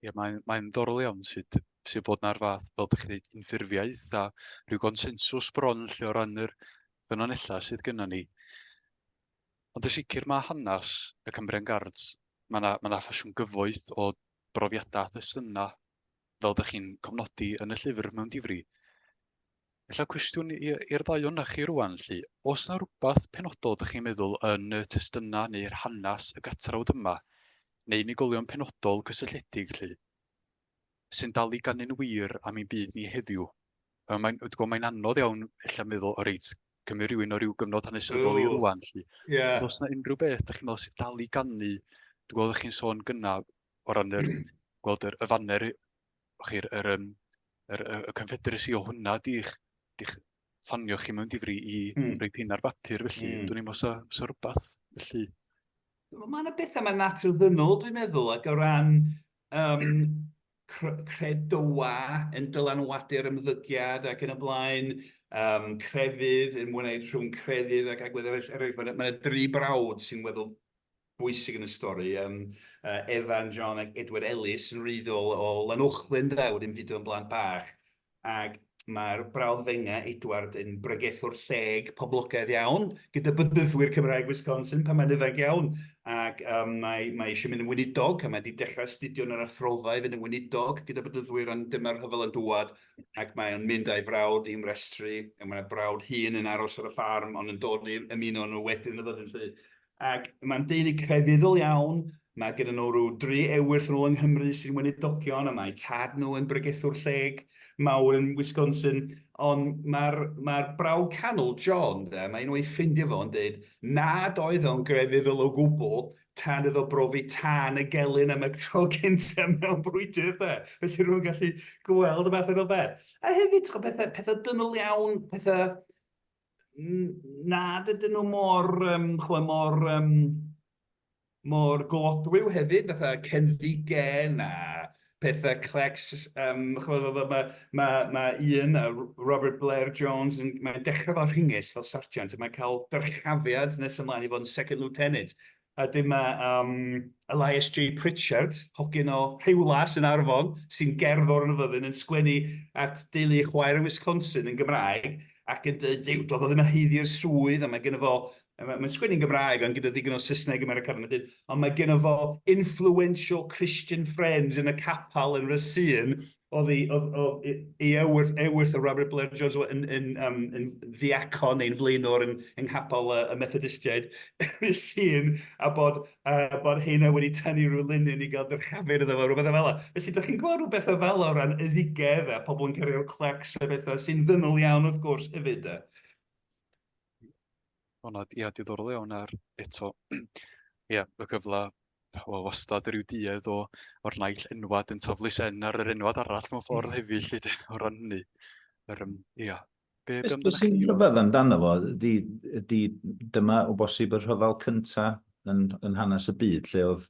Ie mae'n mae'n ddorol iawn sut sy'n bod na'r fath fel dych chi'n dweud unffurfiaeth a rhyw gonsensws bron lle o ran yr ffynonellau sydd gyda ni. Ond y sicr mae hanes y Cymbrian Guards, mae yna ma ffasiwn gyfoeth o brofiadau a thestunau fel dych chi'n cofnodi yn y llyfr mewn difri. Ella cwestiwn i- i'r ddau ohonoch chi rŵan 'lly. Oes 'na rwbath penodol dych chi'n meddwl yn y testuna neu'r hanes y gatrawd yma, neu unigolion penodol cysylltiedig 'lly, sy'n dal i ganu'n wir am ein byd ni heddiw? Yy mae'n dwi gwybod mae'n anodd iawn ella meddwl o reit cymru rhywun o ryw gyfnod hanesyddol i rŵan 'lly. Ie. Ond os 'na unrhyw beth dych chi'n meddwl sy'n dal i ganu, dwi'n gweld ydych chi'n sôn gynna o ran yr gweld yr y faner O'ch chi'r yr yym yr y y confederacy o hwnna di'ch di'ch tanio chi mewn difri i mm. roi pin ar bapur felly mm. dwi'n meddwl sa, sa rhywbeth felly. Mae yna bethau mae'n natur ddynol dwi'n meddwl ac o ran um, credoa yn dylanwadu'r ymddygiad ac yn y blaen um, crefydd yn mwynhau rhwng crefydd ac agwedd eraill. Er, mae yna dri brawd sy'n weddol bwysig yn y stori. Yym yy Evan, John ac Edward Ellis yn wreiddiol o Lanuwchllyn de, wedi ymfudo yn blant bach ac mae'r brawddfenga' Edward yn bregethwr lleg poblogaidd iawn gyda bedyddwyr Cymraeg Wisconsin pan mae'n ifanc iawn ac yym mae mae eisiau mynd yn weinidog a mae wedi dechrau astudio yn yr athrofa i fynd yn weinidog gyda bedyddwyr ond dyma'r rhyfel yn dŵad ac mae o'n mynd a'i frawd i ymrestru a mae'r brawd hun yn aros ar y ffarm ond yn dod i ymuno nhw wedyn y fyddin 'lly. Ac mae'n deulu crefyddol iawn, mae gyda nhw rhyw dri ewyll nhw yng Nghymru sy'n weinidogion a mae tad nhw yn bregethwr lleg mawr yn Wisconsin, ond mae'r mae'r brawd canol, John, de, mae un o'i ffrindiau fo yn deud nad oedd o'n grefyddol o gwbl tan iddo brofi tân y gelyn am y tro cynta mewn brwydr, de. Felly rwy'n gallu gweld y math yna o beth. A hefyd, chwa, pethau, pethau dynol iawn, pethau na, dydyn nhw mor, um, chwe, mor, um, mor godwyw hefyd, fatha cenfigen a pethau clecs. Um, mae ma, ma, ma un, Robert Blair Jones, yn, mae'n dechrau fel rhingill, fel sargent, a mae'n cael dyrchafiad nes ymlaen i fod yn second lieutenant. A dyma yym Elias Jay Pritchard, hogyn o Rhiwlas yn Arfon, sy'n gerddor yn y fyddin, yn sgwennu at deulu chwaer yn Wisconsin yn Gymraeg ac yn deud, Duw, doedd o ddim yn haeddu y swydd, a mae gynno fo... mae'n sgwennu'n Gymraeg ond gyda ddigon o Saesneg yn Americanaidd, mae'n deud, ond mae gynno fo influential Christian friends yn y capel yn Racine, Oedd i, oedd, oedd i, i ewyrth, ewyrth o Robert Blair Jones yn, yn, yn, um, yn ddiacon neu'n flaenwr yn, yng nghapel y, y Methodistiaid sy'n, a bod, a bod heina wedi tynnu rhyw linyn i gael dyrchafur iddo fo, rhywbeth o fel Felly, da chi'n gweld rhywbeth o fel o ran yddugedd a pobl yn cario clecs a bethau sy'n ddynol iawn wrth gwrs hefyd. O na, ia, diddorol iawn ar eto, ia, y cyfle, wel, wastad yr yw duedd o, o'r naill enwad yn taflu sen ar yr enwad arall mewn ffordd hmm. hefyd, lly, o ran hynny. Yr, um, ia, be, be amdano chi? Rhyfedd amdano fo, di, di, dyma o bosib y rhyfel cynta yn, yn hanes y byd, lle oedd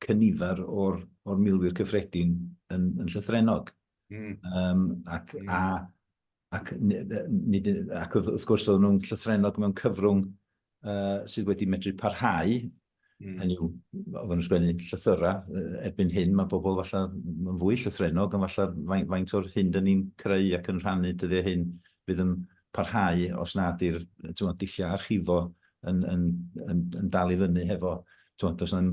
cynifer o'r, or milwyr cyffredin yn, yn llythrenog. Mm. Um, ac mm. a ac wrth gwrs oedden nhw'n llythrennog mewn cyfrwng uh, sydd wedi medru parhau, mm. hynny yw, oedden nhw'n sgwennu llythyrau, erbyn hyn mae bobl falle yn fwy llythrennog, ond falle faint, faint o'r hyn dyn ni'n creu ac yn rhannu dyddiau hyn fydd yn parhau os na ydy'r dulliau archifo yn, yn, yn, yn dal i fyny hefo, does na,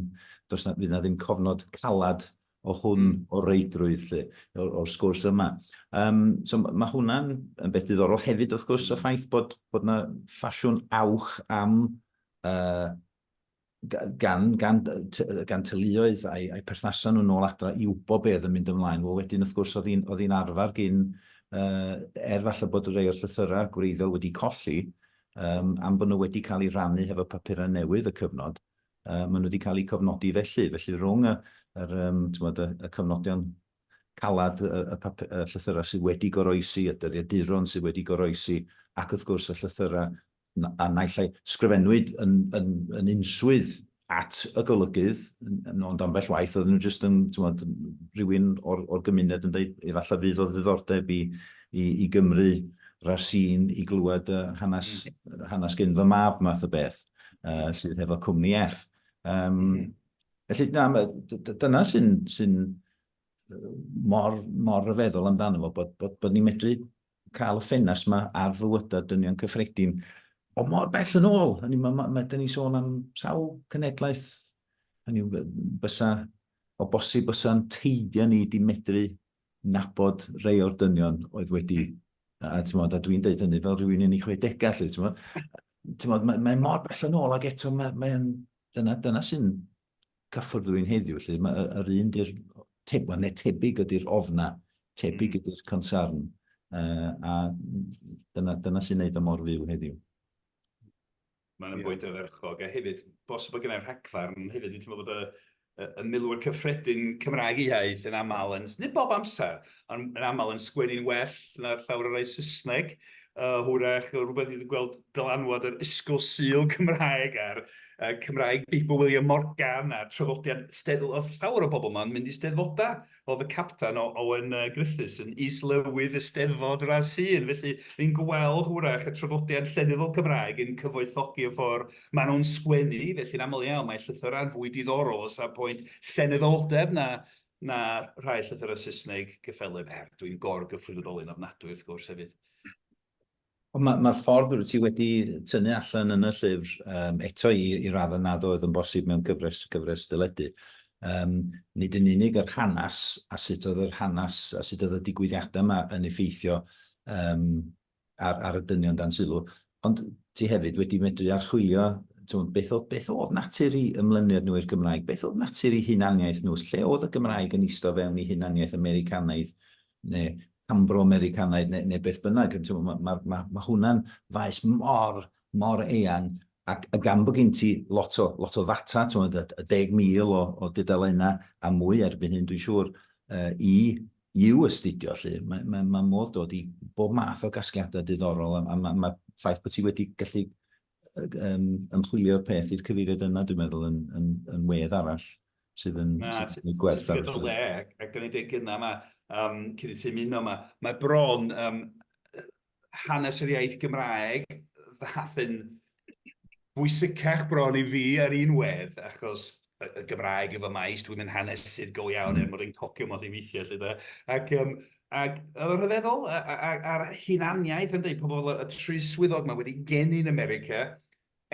does na, fydd na ddim cofnod calad o hwn o reidrwydd 'lly, o'r sgwrs yma. Yym, so ma' hwnna'n yn beth diddorol hefyd wrth gwrs, y ffaith bod bod 'na ffasiwn awch am yy gan gan gan teuluoedd a'i a'i perthnasa nhw nôl adra i wybod be oedd yn mynd ymlaen. Wel wedyn wrth gwrs oedd hi'n oedd hi'n arfer gin yy er falle bod rhai o'r llythyrau gwreiddiol wedi colli yym am bod nhw wedi cael eu rhannu hefo papurau newydd y cyfnod, Yy maen nhw wedi cael eu cofnodi felly. Felly rhwng y yr yym t'mod y y cofnodion calad y y pap- y llythyrau sydd wedi goroesi, y dyddiaduron sydd wedi goroesi, ac wrth gwrs y llythyrau n- a naill ai sgrifennwyd yn yn yn unswydd at y golygydd, n- n- ond ambell waith oedden nhw jyst yn t'mod rhywun o'r o'r gymuned yn deud efallai fydd o ddiddordeb i i i Gymry Racine i glywed yy hanes hanes gyn fy mab math o beth. uh, sydd hefo cwmni F. Um, mm. Felly, na, dyna sy'n sy mor, mor ryfeddol amdano fo, bod, bod, bod ni'n medru cael y ffenas yma ar fywydau dynion cyffredin o mor bell yn ôl. Hynny, mae ma, ma, ma, ni sôn am sawl cenedlaeth, hynny, bysa, o bosib bysa'n teidio ni di medru nabod rhai o'r dynion oedd wedi, a, a, tymod, a dwi'n deud hynny fel rhywun yn ei chwedegau, lle, tymod, tymod, mae, mae mor bell yn ôl ac eto mae, mae dyna, dyna sy'n cyffwrdd rhywun heddiw, lle mae yr un di'r, te, well, neu tebyg ydy'r ofna, tebyg mm. ydy'r concern, uh, a dyna, dyna sy'n neud y mor fyw heddiw. Mae'n yn bwynt ardderchog. A hefyd, bosib bod gennau rhagfarn hefyd, dwi'n teimlo bod y, y, y milwyr cyffredin Cymraeg iaith yn aml yn, nid bob amser, ond yn aml yn sgwennu'n well na llawer o'r rhai Saesneg. Uh, hwrach, rhywbeth dwi'n gweld dylanwad yr ysgol syl Cymraeg a'r uh, Cymraeg Beibl William Morgan a trafodiad steddfod, llawer o bobl yma'n mynd i steddfodau oedd y capten o Owen yy Griffiths yn is-lywydd Eisteddfod yr ASU yn felly ni'n gweld hwyrach y traddodiad llenyddol Cymraeg yn cyfoethogi y ffordd maen nhw'n sgwennu felly'n aml iawn mae llythyrau'n fwy diddorol o safbwynt llenyddoldeb na na rhai llythyrau Saesneg gyffelyb er dwi'n gor-gyffredinoli'n ofnadwy wrth gwrs hefyd. Ond mae'r ma ffordd rwyt ti wedi tynnu allan yn y llyfr, um, eto i, i raddau nad oedd yn bosib mewn cyfres, cyfres dyledu, um, nid yn unig yr hanes a sut oedd yr hanes a sut oedd y digwyddiadau yma yn effeithio um, ar, ar y dynion dan sylw, ond ti hefyd wedi medru archwilio twm, beth, oedd, beth oedd natur i ymlyniad nhw i'r Gymraeg, beth oedd natur i hunaniaeth nhw, lle oedd y Gymraeg yn eistedd fewn i hunaniaeth Americanaidd neu Cambro-Americanaidd neu, neu beth bynnag, mae ma, ma, ma hwnna'n faes mor, mor eang, ac a gan bod gen ti lot o, lot o ddata, tywed, y deg mil o, o dudalennau a mwy erbyn hyn, dwi'n siŵr, uh, i i'w astudio, lle, mae, mae, mae modd dod i bob math o gasgliadau diddorol, a, a mae ma ffaith bod ti wedi gallu um, ymchwilio'r peth i'r cyfeiriad yna, dwi'n meddwl, yn, yn, yn wedd arall. sydd yn gwneud gwerth ar y ffyrdd. Na, ti'n gwneud o le, ac o'n i'n dweud gynnau yma, cyn i ti ymuno yma, mae bron hanes yr iaith Gymraeg ddaeth yn bwysicach bron i fi ar un wedd, achos y Gymraeg yw fy maes, dwi'n mynd hanesydd go iawn er mwyn ein cocio modd i weithiau, lle da. Ac Ac oedd o'n rhyfeddol, a'r hunaniaeth yn dweud pobl y tri swyddog mae wedi geni yn America,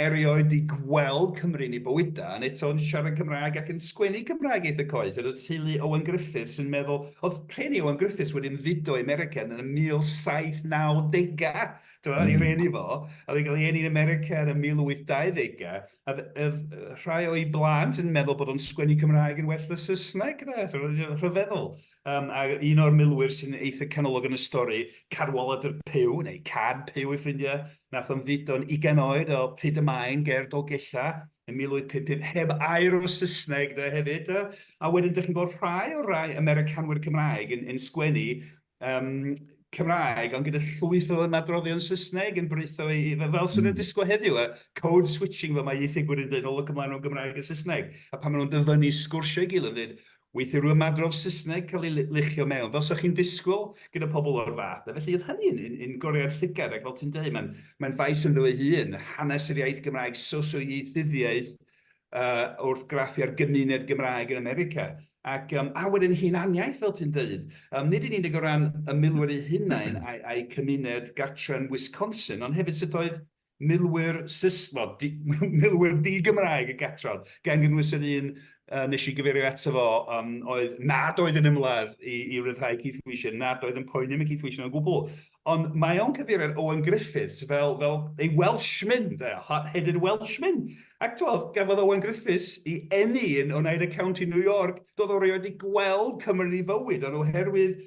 erioed di gweld Cymru yn ei bywydau, yn eto yn siarad Cymraeg ac yn sgwennu Cymraeg eitha coeth, yr oedd teulu Owen Griffiths yn meddwl, oedd rheni Owen Griffiths wedi ymfudo i America yn y 1790au, tibod, ar ei rheni fo, a oedd hi'n cael ei eni yn America yn y 1820au, a oedd rhai o'i blant yn meddwl bod o'n sgwennu Cymraeg yn well na Saesneg, tibod, rhyfeddol. Yym a un o'r milwyr sy'n eitha canolog yn y stori, Cadwaladr Puw, neu Cad Puw ei ffrindiau, nath ymfudo'n ugain oed o Pryd y Maen ger Dolgella yn 1855, heb air o Saesneg 'de hefyd 'de, a wedyn dych chi'n gweld rhai o'r rhai Americanwyr Cymraeg yn yn sgwennu yym Cymraeg ond gyda llwyth o ymadroddion Saesneg yn britho i i fel 'swn i'n hmm. disgwyl heddiw y code switching fel mae ieithygwyr yn dweud o look ymlaen o Gymraeg a Saesneg a pan maen nhw'n dyfynnu sgwrsio i gilydd yn dweud Weithiau rwy'n ymadrodd Saesneg cael ei luchio mewn, fel 'sa chi'n disgwyl gyda pobl o'r fath 'na. Felly oedd hynny'n un un goreuad llygad, ac fel ti'n deud, mae'n mae'n faes ynddo ei hun, hanes yr iaith Gymraeg, sosioieithyddiaeth, yy wrth graffu ar gymuned Gymraeg yn America. Ac yym a wedyn hunaniaeth, fel ti'n deud, yym nid yn unig o ran y milwyr eu hunain a'u a'u cymuned gartre yn Wisconsin, ond hefyd sut oedd milwyr Saesneg, milwyr di-Gymraeg y Catron, gan gynnwys yr un nes i gyfeirio ato fo, oedd nad oedd yn ymladd i ryddhau Keith Wisher, nad oedd yn poeni am y Keith Wisher o gwbl. Ond mae o'n cyfeirio ar Owen Griffiths fel ei Welshman, hot-headed Welshman. Ac twod, gafodd Owen Griffiths i eni yn Oneida County, New York, doedd o rioed wedi gweld Cymru yn ei fywyd, ond oherwydd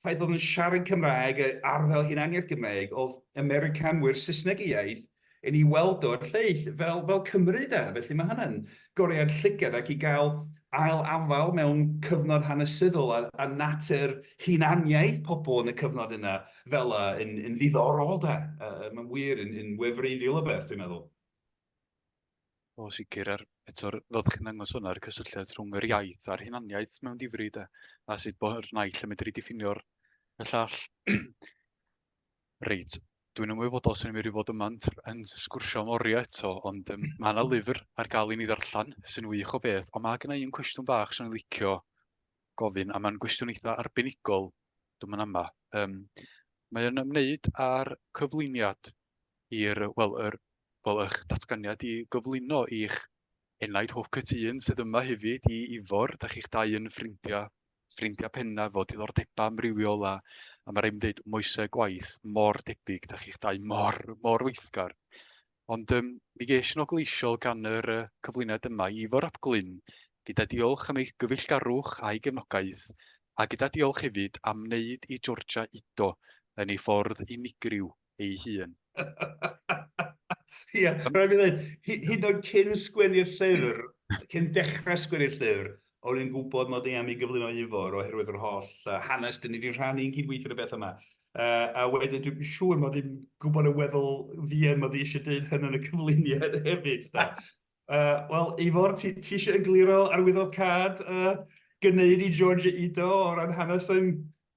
ffaith oedd yn siarad Cymraeg a ar fel hunaniaeth Gymraeg, oedd Americanwyr Saesneg y iaith yn ei weld o'r lleill fel, fel Cymru de. Felly mae hynny'n goriad llygad ac i gael ail afael mewn cyfnod hanesyddol a, a natur hunaniaeth pobl yn y cyfnod yna fel yna yn, yn ddiddorol de. Uh, mae'n wir yn, yn wefreiddiol o beth, dwi'n meddwl. O sicr, a'r eto'r fel dach chi'n ddangos hwnna, yr cysylltiad rhwng yr iaith a'r hunaniaeth mewn difri de, a sut bo'r naill yn medru diffinio'r y llall. Reit, dwi'n ymwybodol sy'n mynd i fod yma yn sgwrsio am oriau eto, ond um, mae yna lyfr ar gael i ni ddarllen sy'n wych o beth, ond mae gen i un cwestiwn bach sy'n licio gofyn, a mae'n gwestiwn eitha arbenigol dwi'n mynd yma. Um, mae'n ymwneud â'r cyflwyniad i'r, wel, yr, wel, eich datganiad i gyflwyno i'ch enaid hoff cytun sydd yma hefyd i Ifor. Da chi'ch dau yn ffrindiau, ffrindiau pennaf o diddordebau amrywiol a, a mae rhaid mi ddeud moesau gwaith mor debyg, da chi'ch dau mor, mor weithgar. Ond um, mi geis yn ogleisiol gan yr uh, cyflwyniad yma i Ifor ap Glyn, gyda diolch am eich gyfeillgarwch a'i gefnogaeth, a gyda diolch hefyd am wneud i Georgia Ido yn ei ffordd unigryw ei hun. Ia, rhaid fi ddeud, hyd yn oed cyn sgwennu'r llyfr, cyn dechrau sgwennu'r llyfr, o'n i'n gwybod mod i am ei gyflwyno i Ifor oherwydd yr holl uh, hanes dyn ni wedi rhannu yn cydweithio ar y beth yma. Uh, a wedyn dwi'n siŵr mod i'n gwybod y weddol fian mod i eisiau dweud hyn yn y cyflwyniad hefyd. Da. Uh, Wel, Ifor, ti, ti eisiau egluro arwyddo'r cad uh, gynneuid i George Ido o ran hanes yn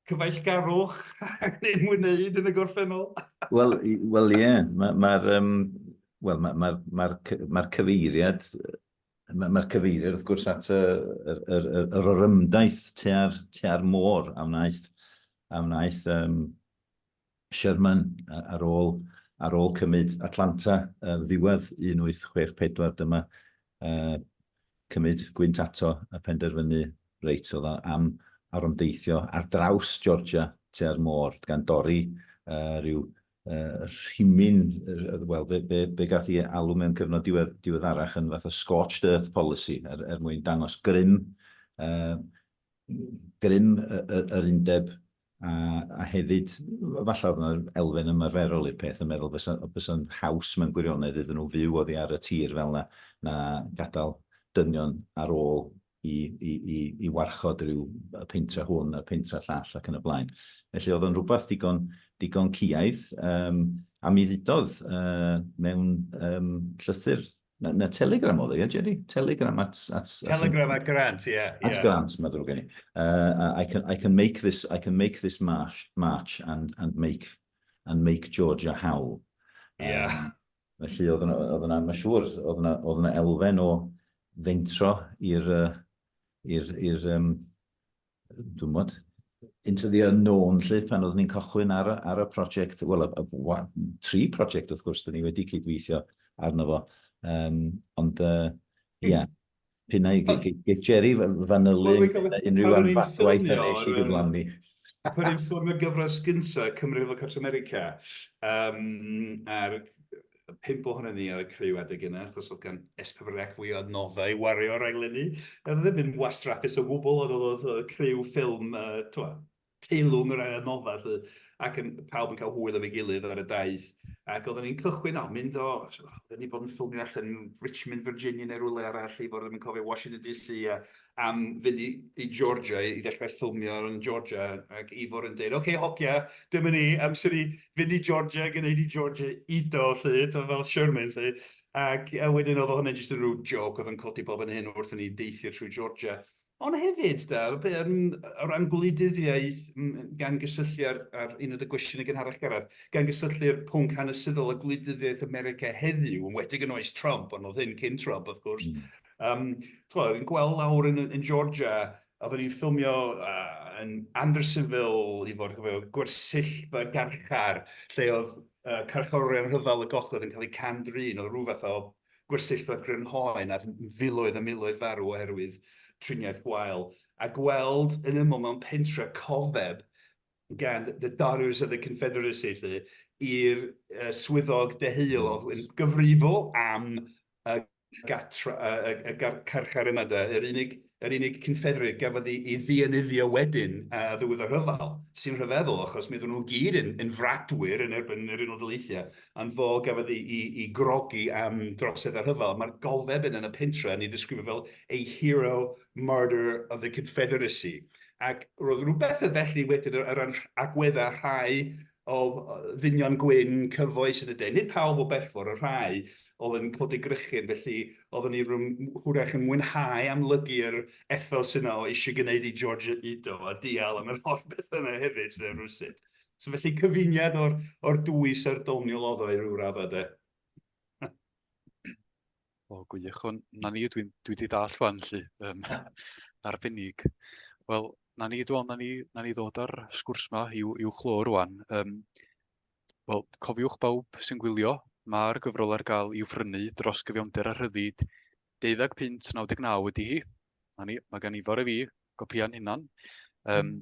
cyfeillgarwch ac yn ymwneud yn y gorffennol. Wel, wel ie, yeah. mae'r ma, ma um, well, ma, ma, ma, ma cyfeiriad Mae'r ma cyfeiriad wrth gwrs at y, yr, yr, yr, yr orymdaith tua'r, tua'r môr a wnaeth, a wnaeth um, Sherman ar ôl ar ôl cymryd Atlanta ar ddiwedd 1864 dyma cymryd gwynt ato a phenderfynu reit oedd o am arom deithio ar draws Georgia tua'r môr gan dorri rhyw rhimyn wel fe fe fe gath i alw mewn cyfnod diwedd diweddarach yn fath o scorched earth policy er er mwyn dangos grym grym yr undeb a, a hefyd, falle oedd yna elfen ymarferol i'r peth yn meddwl fysa'n fysa haws mewn gwirionedd iddyn nhw fyw oddi ar y tir fel yna, na gadael dynion ar ôl i, i, i, i warchod rhyw y pentra hwn a'r pentra llall ac yn y blaen. Felly oedd o'n rhywbeth digon, digon ciaidd, um, a mi ddudodd uh, mewn um, llythyr Na, na telegram oedd e, ie, Jerry? Telegram at... at telegram at Grant, ie. Yeah, at yeah. Grant, mae ddrwg gen i. Uh, I, can, I can make this, I can make this march, march and, and, make, and make Georgia howl. Yeah. Um, felly, oedd yna, oedd yna, mae siŵr, oedd yna, oedd yna elfen o fentro i'r, uh, i'r, i'r, um, dwi'n gwybod, into the unknown lle, pan oeddwn ni'n cychwyn ar, ar y prosiect, wel, tri prosiect wrth gwrs, dyn ni wedi cydweithio arno fo, um, ond ie, uh, yeah, pyn ei geith Jerry fanylu unrhyw anfadwaith yn eich i gyflawni. Pan i'n ffilmio gyfres gyntaf Cymru fel Cwrt America, um, a'r Roedd pump ohonon ni ar y criw adeg yna, achos oedd gan S4C fwy o adnoddau i wario ar raglenni. Oedd o ddim yn wastraffus o gwbl, ond oedd y criw ffilm, tibod, teilwng o ran adnoddau 'lly, ac yn... pawb yn cael hwyl efo'i gilydd ar y daith. Ac oedden ni'n cychwyn o, mynd o, oedden ni 'di bod yn ffilmio allan yn Richmond, Virginia neu rywle arall, i fod ddim yn cofio, Washington DC, a am fynd i, i Georgia, i ddechrau ffilmio yn Georgia, ac Ifor yn dweud, oce, okay, hogia, dyma ni, amser i fynd i Georgia, gwneud i Georgia ido, lle, to fel Sherman, lle. Ac a wedyn oedd hwnna jyst yn rhyw joc oedd yn codi bob yn hyn wrth ni deithio trwy Georgia. Ond hefyd, da, o ran gwleidyddiaeth, gan gysylltu ar, ar un o'r gwestiwn yn gynharach garad, gan gysylltu'r pwnc hanesyddol a gwleidyddiaeth America heddiw, yn wedi yn oes Trump, ond oedd hyn cyn Trump, of course, mm. Um, Twyd, yn gweld lawr yn, yn Georgia, a oedden ni'n ffilmio uh, yn Andersonville i fod gofio, gwersyll fy garchar, lle oedd uh, carchorion rhyfel y gogledd yn cael eu cam-drin, oedd rhywbeth o gwersyll fy grynhoen a filoedd a miloedd farw oherwydd triniaeth gwael. A gweld yn ymwyl mewn pentre cofeb gan The Daughters of the Confederacy, i'r uh, swyddog deheuol oedd yn gyfrifol am uh, gatra, y, y, y carchar yma de, yr unig, yr unig cynffedrig gafodd ei, ei ddienyddio wedyn a ddiwedd y rhyfel, sy'n rhyfeddol achos mi oedden nhw gyd yn, yn fradwyr yn erbyn yr Unol Daleithiau, ond fo gafodd ei, ei, ei grogi am drosedd y rhyfel. Mae'r golfeb yn y pentre yn ei ddisgrifio fel a hero martyr of the Confederacy. Ac roedd rhywbeth y felly wedyn ar ran agweddau rhai o ddynion gwyn cyfoes yn y de, nid pawb o bellfor, y rhai oedd yn codi grychyn, felly oeddwn i hwyrach yn mwynhau amlygu'r ethos yna o eisiau gwneud i George yr Udo a dial am yr holl bethau yna hefyd, sef rywsut. So felly cyfuniad o'r, o'r dwy serdoniol oedd o i ryw raddau de. O gwych, wel 'na ni dwi'n dwi 'di dallt rŵan 'lly yym arbennig. Wel 'na ni dwi'n meddwl 'na ni 'na ni ddod â'r sgwrs 'ma i'w i'w chlo rŵan yym wel cofiwch bawb sy'n gwylio, mae'r gyfrol ar gael i'w phrynu dros gyfiawnder a rhyddid deuddag punt naw deg naw ydi hi. 'Na ni, mae gan Ifor a fi gopïau'n hunan. Yym hmm.